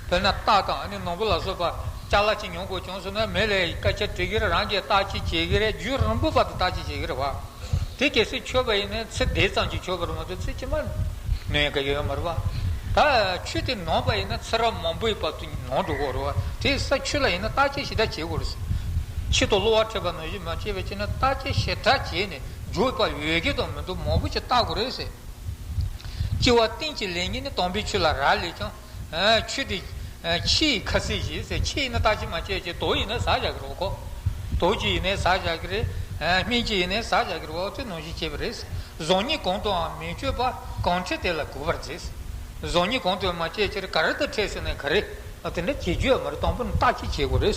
Speaker 1: དཔེར་ན་སྟག་དང་ནོར་བུ་ལ་སོགས་པ་སྐྱ་ལ་གཅིག་མྱོང་དགོས་བྱུང་ཟེར་ན་མེ་ལས་སྐད་ཆ་དྲི་གི་རེད་རང་གིས་ལྟ་ཅི་བྱེད་ཀྱི་རེད་རྒྱུ་རིང་པོ་བར་དུ་ལྟ་ཅི་བྱེད་ཀྱི་རེད་བ། དེ་གལ་སྲིད་ཆོས་པ་ཡིན་ན་ཚེ་འདས་ཙམ་གྱིས་ཆོག་པར་མ་གཏོགས་ཚེ་ཕྱི་མ་ནོན་གི་ཡོད་མ་རེད་བ། ད་ཆོས་དེ་ནོར་བ་ཡིན་ན་ཚེ་རབས་མང་པོའི་བར་དུ། ནང་དུ་བོར་བ། དེ་ས་ཆུ་ལ་ཡིན་ན་བརྟག་དཔྱད་ཞེ་དྲག་བྱེད་དགོས། ཕྱི་དུ་གློ་བ་འཕྲད་པ་ནང་བཞིན་མ་སྐྱེས་པའི་ཕྱིར་ན་བརྟག་དཔྱད་ཞེ་དྲག་བྱས་ནས་འཇོག་པ་འོས་ཀྱི་དང་མི་འདུག་མང་པོ་ཞིག་བརྟག་དགོས་རེད། ལྕི་བ་སྟེང་གཅིག་ལས་གཉིས་ནི་དྭངས་པའི་ཆུ་ལ་རག་ལས་ཀྱང། ཆུ་དེ། ཕྱི་ཡི་ཁ་ཟས་ཞེས་ཟེར་ཕྱི་ཡིན་ན་བརྟག་དཔྱད་མ་བྱས་ཀྱི་དོགས་ཡིན་ན་ཟག་བཞག་གི་རོ་ཁོག། དོགས་ཀྱི་ཡིན་ན་ཟག་བཞག་གི་རེད། སྨིན་ཀྱི་ཡིན་ན་ཟག་བཞག་གི་རེད་བ་འོ་དེ་ནང་བཞིན་བྱས་པ་རེད། ཟོག་གཉིས་གང་དུའང་མི་སྤྱོད་པ་གང་འཕྲད་དེ་ལ་གོ་བར་མཛད། གཟུགས་ནི་གོང་དུ་མ་སྐྱེས་ཕྱིར་ག་རེ་དང་ཕྲད་ཟེར་ན་ག་རེ། དེ་འདྲ་བྱེད་རྒྱུ་ཡང་མ་རེད་དང་པོ་ནི་རྟགས་ཀྱིས་བྱེད་དགོས་རེད།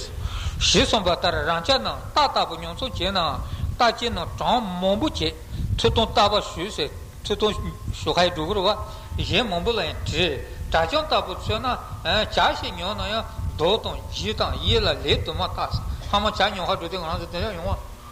Speaker 1: ཞེས་གསུངས་པ་ལྟར་རང་ཅག་རྣམས་རྟགས་ལྟ་བུ་ཉོ་ཚོང་བྱེད་ནའང་རྟགས་ཅན་ནང་གྲངས་མང་པོ་བྱེད། ཐུགས་དང་རྟག་པ་ཞུས་ཟེར་ཐུགས་དང་ཞུ་ཁ་ཡི་སྒྲོ་སྐུར་བ། གཞན་མང་པོ་ལ་ཡང་བྲིས། དྲ་བྱང་ལྟ་བུར་མཚོན་ན། བྱ་ཞིག་ཉོ་ན་ཡང་རྡོ་དང་རྗེས་དང་གཡས་ལ་ལས་དུ་མ་བཏགས། ཚང་མ་བྱ་ཉོ་ཁར་འགྲོ་དུས་ང་རང་ཚོ་དེ་འདྲ་ཡོང་བ།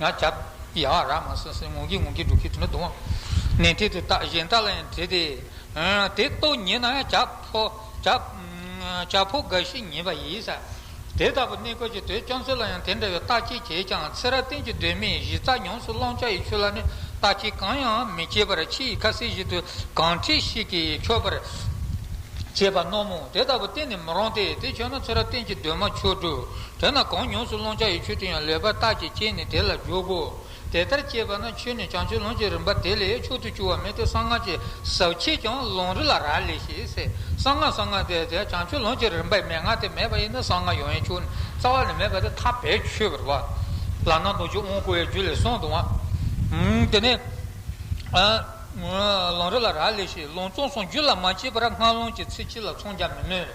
Speaker 1: ཡང་བྱབ། ཡ་བ་ར་མ་སིང་སིང་ངུ་གི་ངུ་གི་འབྲུག་གི་དྲི་མ་རྡུང། ནས་དྲི་དེ་དག་གཞན་དག་ལ་ཡང་དྲི་སྟེ། དེ་ལྟོ་ཉེས་ན་ཡང་བྱབ་ཕོ། བྱབ། བྱབ་ཕོ་རྒ་ཤི་ཉེས་པ་ཡིས། དེ་ལྟ་བུ་གནས་སྐོར་གྱི་དོད་བཅོམ་ཚུལ་ལ་ཡང་དེ་འདྲ་བའི་རྟགས་ཅི་བྱེད་ཀྱང་ཚེ་རབས་གཏན་གྱི་གདོད་མའི་གཞི་རྩ་ཉམས་སུ་བླང་བྱ་ཡི་ཆོས་ལ་ནི་རྟགས་ཀྱི་གང་ཡང་མི་བྱེད་པར་ཕྱི་ཡི་ཁ་ཟས་བཞིན་དུ་གང་འཁྲིས་ཤིག་གིས་ཆོད་པར་བྱེད་པ་རྣོ་མོ་དེ་ལྟ་བུ་གཏན་ནས་མི་རུང་སྟེ་དེ་ཆོད་ན་ཚེ་རབས་གཏན་གྱི་གདོད་མ་ཆོས་དྲུག་དེ་ན་གང་ཉོངས་སུ་སློང་བྱ་ཡི་ཆོས་དེ་ཡང་ལེགས་པར་བརྟགས་ཀྱིས་དཔྱད་ནས་དེ་ལ་འཇོག་གོ། དེ་ལྟར་དཔྱད་པ་ན་ཆོས་ནི་བྱང་ཆུབ་ལོངས་སྤྱོད་རིམ་པ་དེ་ལས་མཆོག་ཏུ་གྱུར་བ་མེད་དེ་གསང་སྔགས་ཀྱི་ཟབ་ཆོས་ཀྱང་ལོང་རི་ལ་རག་ལས་ཞེས་ཟེར། གསང་སྔགས་གསང་སྔགས་དེ་དེ་བྱང་ཆུབ་ལོངས་སྤྱོད་རིམ་པའི་མན་ངག་དེ་མེད་པ་ཡིན་ན་གསང་སྔགས་ཡོངས་ཡིན་ཆོས་ནི་རྩ་བ་ནས་མེད་པ་དེ་ཐ་བས་ཆོས་བར་བ། ལ་ནང་རྡོ་རྗེ་དབང་བསྐུར་བའི་རྒྱུད་ལས་གསུངས་དང། དེ་ནས། ལོང་རི་ལ་རག་ལས་ཞེས་ལོང་ཙོང་སོང་རྒྱུད་ལ་མ་སྐྱེས་པར་སྔགས་ལོང་གི་ཚིག་གཅིག་ལ་ཚོང་རྒྱག་མི་ནུས།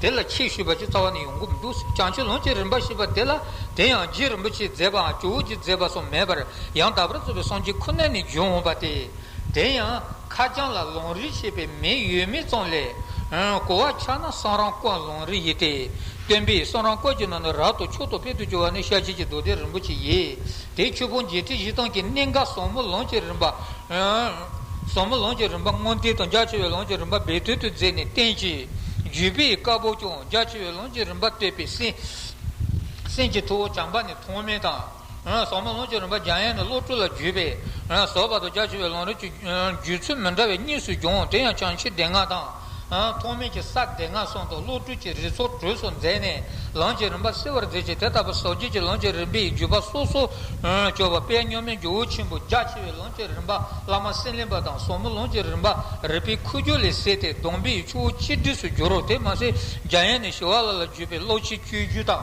Speaker 1: དེ་ལ་ཆོས་ཞུས་པ་ཅུང་རྩ་བ་ནས་ཡོང་གི་མི་འདུག་ཟེར་བྱང་ཆུབ་ལོངས་སྤྱོད་རིམ་པ་ཞེས་པ་དེ་ལ་དེ་ཡང་རྗེ་རིན་པོ་ཆེས་མཛད་པའང་ཇོ་བོ་རྗེས་མཛད་པ་སོགས་མེད་པར་ཡང་དག་པར་རྩོད་པའི་སངས་རྒྱས་ཁོ་ན་ནས་བྱོན་འོངས་པ་སྟེ། དེ་ཡང་ཁ་བྱང་ལ་ལུང་རིགས་ཞེས་པའི་མིང་ཡོད་མེད་ཙམ་ལས། གོ་བ་ཆགས་ན་གསང་རང་བཀོད་ལུང་རིགས་ཡིན་ཏེ། སྟོན་པས་གསང་རང་བཀོད་ཀྱི་ནང་ནས་རབ་ཏུ་མཆོག་ཏུ་དཔལ་དུ་གྱུར་བ་ནི་ཤར་ཕྱིན་གྱི་མདོ་སྡེ་རིན་པོ་ཆེ་ཡིན། དེའི་ཆོས་ཕུང་བརྒྱད་ཁྲི་བཞི་སྟོང་གི་གནས་འགའ་ཟབ་མོ་ལོངས་སྤྱོད་རིམ་པ། བཟང་མོ་ལོངས་ཀྱི་རིམ་པ་མངོན་དུས་དང་རྒྱ་ཆེ་བའི་ལོངས་ཀྱི་རིམ་པ་སྦས་བསྟོད་དུ་མཛད་ནས་བསྟན་གྱི། བརྒྱུད་པའི་བཀའ་བབས་ཀྱང་རྒྱ་ཆེ་བའི་ལོངས་ཀྱི་རིམ་པ་བསྟོད་པའི་གསན། གྱི་ཐུ་བོ་བྱམས་པ་ནི་ཐོགས་མེད་དང། བཟང་མོ་ལོངས་ཀྱི་རིམ་པ་རྒྱ་ཡན་ནི་བློ་གྲོས་ལ་བརྒྱུད་པའི། ཟོར་བ་དང་རྒྱ་ཆེ་བའི་ལོངས་རིགས་ཀྱི། བརྒྱུད་ཚུལ་མི་འདྲ་བས་གཉིས་སུ་བྱུང་དེ་ཡང་བྱང་ཕྱི་སྡེ་ལྔ་དང། ཐོགས་མེད་ཀྱི་སར་སྡེ་ལྔ་སོང་དུ་བློ་གྲོས་ཀྱི་རི་ཚོགས་གྲོལ་སོགས་མཛད་ནས་ལམ་གྱི་རིམ་པ་གསལ་བར་མཛད་ཅིང་དེ་ལྟ་བུ་ཟབ་རྒྱས་ཀྱི་ལམ་གྱི་རིམ་པའི་བརྒྱུད་པ་སོ་སོར་བཅོས་པ་པད་སྨྱོན་མའི་ཇོ་བོ་ཆེན་པོ་རྒྱ་ཆེ་བའི་ལམ་གྱི་རིམ་པ་བླ་མ་སེང་ལེམ་པ་དང་ཟོག་མོ་ལམ་གྱི་རིམ་པ་རིག་པའི་ཁུ་བྱུག་ལས་གསལ་ཏེ་སྡོམ་པའི་ཆུ་བོ་གཅིག་སྒྲིགས་སུ་འགྱུར་རོ་དེ་མ་ཟད་རྒྱ་ཡན་ནས་ཞི་བ་ལ་ལ་བརྒྱུད་པའི་བློ་ཆེན་བཅུའི་རྒྱུད་དང།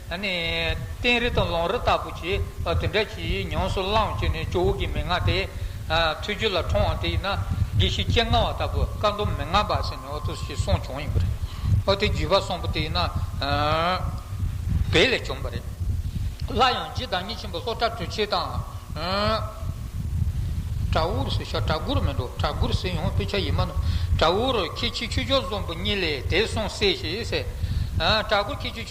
Speaker 1: སྟན་རི་དང་ལོང་རི་ལྟ་བུ་ཆེ་བ་དེ་འདྲ་ཞིག་ཉམས་སུ་བླངས་བྱས་ནས་ཇོ་བོ་གྱི་མན་ངག་དེ་ཐོས་རྒྱུ་ལ་ཁྲོའང་དེ་ཡིན་ན་དགེ་བཤེས་སྤྱན་སྔ་བ་ལྟ་བུ་བཀའ་མདོ་མན་ངག་འབའ་ཞིག་ནས་ཨོ་ཐུགས་ཞེས་གསུངས་བྱུང་ཡོད་པ་རེད། ཨོ་དེ་བརྒྱུད་པ་གསུམ་པོ་དེ་ཡིན་ན་བལ་ལས་བྱུང་བ་རེད། སླར་ཡང་རྗེ་བདག་ཉིད་ཆེན་པོ་ལྷོ་བྲག་གྲུ་ཆེན་དང། བྲག་འུར་ཟེར་ཤག་བྲག་འགུར་མིན་འགྲོ་བྲག་འགུར་ཟེར་ཡང་དཔེ་ཆ་ཡིན་མ་གནང། བྲག་འུར་ཁྱེད་ཕྱི་ཆོས་ཕྱོགས་གཟུང་བུ་གཉིས་ལས་དེ་གསུངས་གསལ་ཞེས་ཟེར། བྲག་འགུར་ཁྱེད་ཆོས།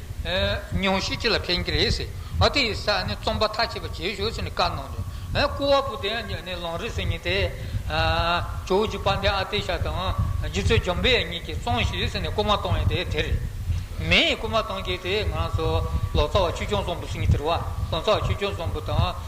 Speaker 1: ཉུང་ཤས་ཅི་ལ་ཕན་གྱི་རེད་ཟེར། ཨ་དེ་ཡི་ས་ནས་རྩོམ་པ་ཐག་བཅད་པ་བྱེད་ཞོར་ཟེར་ནས་བཀའ་གནང་དོན། སྐུ་བ་པོ་དེ་ཡང་ནི་ལོང་རི་སེང་གཉིས་ཏེ། ཇོ་བོ་རྗེ་དཔལ་ལྡན་ཨ་དེ་ཤ་དང་རྗེ་བཙུན་འཇམ་དཔལ་གཉིས་ཀྱིས་བཙོང་ཞིག་ཟེར་ནས་སྐུ་མ་གཏོང་ཡས་དེ་དེ་རེད། མེའི་སྐུ་མ་གཏོང་གྱི་དེ་ང་ཚོ་ལོ་ཙཱ་བ་ཆོས་སྐྱོང་བཙོང་པོ་སེང་གཉིས་དེར་བ་ལོ་ཙཱ་བ་ཆོས་སྐྱོང་བཙོང་པོ་དང།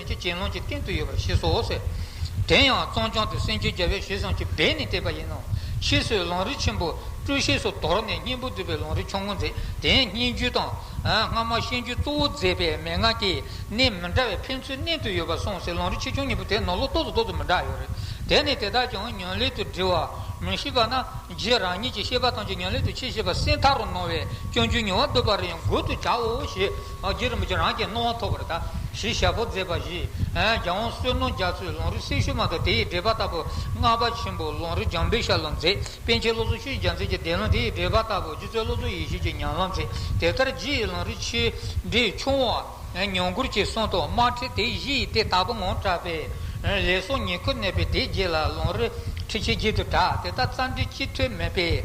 Speaker 1: ཀྱི་གྱེན་ལོངས་ཀྱི་སྟེང་དུ་ཡོད་པར་ཤེས་སོ། དེ་ཡང་གཙང་བྱང་དུ་སེང་ཆེན་རྒྱལ་བོའི་ཞལ་ཟངས་ཀྱི་སྦས་ནས་བཏེགས་པ་ཡིན་ནོ། ཕྱིས་སུ་ལུང་རིགས་ཆེན་པོ་སྤྲུལ་ཤེས་སུ་དོར་ནས་སྙིང་པོ་འདུས་པའི་ལུང་རིགས་ཆུང་ངུ་མཛད་དེ་སྙན་བརྒྱུད་དང། སྔ་མ་ཤེས་འགྱུར་གཙོ་བོ་མཛད་པས་མན་ངག་གི་གནས་མི་འདྲ་བས་ཕན་ཚུན་གནད་དུ་ཡོད་པར་གསུངས་ཟེར་ལུང་རིགས་ཆེ་ཆུང་གཉིས་པོ་དེ་ནོར་ལོག་ཏོག་ཙུ་ཏོག་ཙུ་མི་འདྲ་ཡོད་རེད། དེ་ནི་དེ་དག་ཀྱང་ཉོན་ལེགས་དུ་འདྲི་བར་མི་བྱེད་པ་ན་རྗེ་རང་ཉིད་ཀྱི་བཤད་པ་ཐམས་ཅད་ཉོན་ལེགས་དུ་ཆེས་ཤེས་པ་སེང་ཐག་རུ་སྣང་བས་སྐྱོན་བརྗོད་ཉུང་བར་འདོད་པ་རེ་ཡང་དགོད་དུ་བྱའོ་ཞེས། རྒྱུད་རིན་པོ་ཆེ་རང་གི་སྣང་བ་ཐོབ་པར་གདའ། ཞེས་ཞལ་ཕོག་མཛད་པ་བཞི། རྒྱ་དབང་བསོད་ནོར་རྒྱ་མཚོས་ལུང་རིགས་སྲས་ཤུལ་མ་དང་དེ་ཡི་འགྲེལ་པ་ལྟ་བུ། སྔགས་པ་ཆེན་པོ་ལུང་རིགས་འཇམ་དཔལ་ཤར་ལ་མཛད། པཎ་ཆེན་བློ་བཟང་ཤུལ་རྒྱ་མཚོས་ཀྱི་བཟླས་ལུང་དེ་ཡི་འགྲེལ་པ་ལྟ་བུ་སྒྱུ་རྩལ་བློ་བཟོ་ཡེ་ཤེས་ཀྱིས་ཉམས་ལ་མཛད། དེ་ལྟར་རྗེ་ཡི་ལུང་རིགས་ཆེ་འབྲིང་ཆུང་བ། ཉམས་མགུར་གྱི་གསུང་དང་དམར་ཁྲིད་དེ་བཞི་ཡི་དེ་ལྟ་བུ་ངང་གྲགས་པས། ལས་སོགས་ཉེར་མཁོར་གནས་པའི་དེ་རྗེས་ལ་ལུང་རིགས་ཁྲིད་ཆེ་བརྒྱད་དུ་གྲགས་དེ་དག་རྩ་འགྲེལ་སྤྱི་འཐུས་མེད་པས།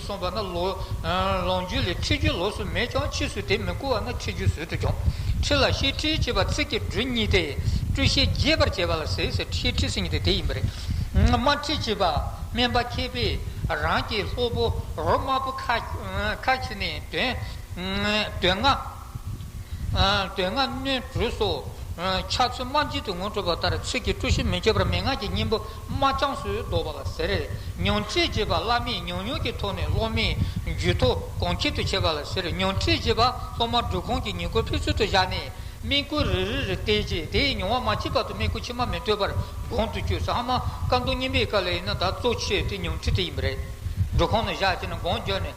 Speaker 1: གསུངས་པ་ན། ལོངས་སྤྱོད་ལས་ཁྲིད་རྒྱུ་ལོགས་སུ་མེད་ཀྱང་ཕྱིས་སུ་དེ་མི་བཀུར་བ་ན་ཁྲིད་རྒྱུ་ཟོལ་དུ་སྦྱོང། ཁྲིད་ལ་ཤེས་ཁྲིད་ཅེས་པ་ཚིག་གི་འབྲུ་གཉིས་ཏེ། བཀྲུ་ཤེས་རྒྱས་པར་བྱེད་པ་ལ་ཟེར་ཟེར་ཤེས་ཁྲིད་ཟེར་ཉིད་དེ་དེ་ཡིན་པ་རེད། དམར་ཁྲིད་ཅེས་པ་སྨན་པ་མཁས་པས་རང་གི་སློབ་བུ་རོ་དམར་པོ་ཁ་ཁྱེར་ནས་དོན་ལྔ། དོན་ལྔ་སྣོད་དྲུག་སོགས། ཕྱག་མཚོན་རྨ་འབྱིན་དུ་ངོ་སྤྲོད་པ་ལྟར་ཚིག་གི་སྤྲོ་གཞི་མི་བསྐྱོད་པར་མན་ངག་གི་སྙིང་པོ་རྨ་བྱང་སུ་བཟློག་པ་ལ་ཟེར། མྱོང་ཁྲིད་ཅེས་པ་བླ་མས་མྱོང་མྱོང་གི་ཐོག་ནས་སློབ་མའི་རྒྱུད་ཐོ་གོང་འཁྱེར་དུ་བྱེད་པ་ལ་ཟེར་མྱོང་ཁྲིད་ཅེས་པ་སློབ་མ་སྒྲུབ་ཁང་གི་ཉེ་འཁོར་ཕུན་ཚོད་དུ་བཞག་ནས་དམིགས་བཀུར་རེ་རེ་རེ་བལྟས་རྗེས་དེའི་མྱོང་བ་མ་སྐྱེས་བར་དུ་དམིགས་བཀུར་ཕྱི་མ་མི་སྤྲོད་པར་དགོངས་དུ་བཅུག་ཚང་མ་བཀའ་མདོ་སྙིམ་པའི་བཀའ་ལས་ཡིན་ན་དག་གཙོ་ཆེ་དེ་མྱོང་ཁྲིད་དེ་ཡིན་པ་རེད། སྒྲུབ་ཁང་ནས་བཞག་ཅེ་ན་དགོངས་བརྒྱབ་ནས།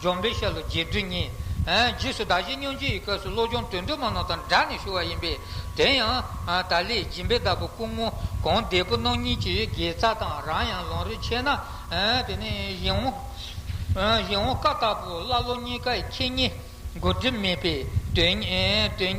Speaker 1: འཇོམས་པའི་ཤ་ལོ་བརྒྱད་བདུན་གཉིས། རྗེས་སུ་བདག་བཞི་སྙོམས་བྱེད་ཀྱི་སྐབས་སུ་བློ་སྦྱོང་དོན་དུ་མ་ནོར་དང་སྦྲགས་ནས་ཞུ་བ་ཡིན་པས་དེ་ཡང། ད་ལས་སྦྱིན་པའི་བདག་པོ་སྐུ་ངོ་གང་བདེ་པོ་གནང་ཉིན་གྱི་དགེ་རྩ་དང་རང་ཡང་ལོང་རེ་ཆད་ན། དེ་ནས་གཞན་འོང། གཞན་འོང་བཀའ་བཏགས་པོ་ཀླ་ཀློ་གཉིས་ཀ་ཡི་ཁྱེད་གཉིས། གོ་སྒྲིབ་མེད་པའི་དོན།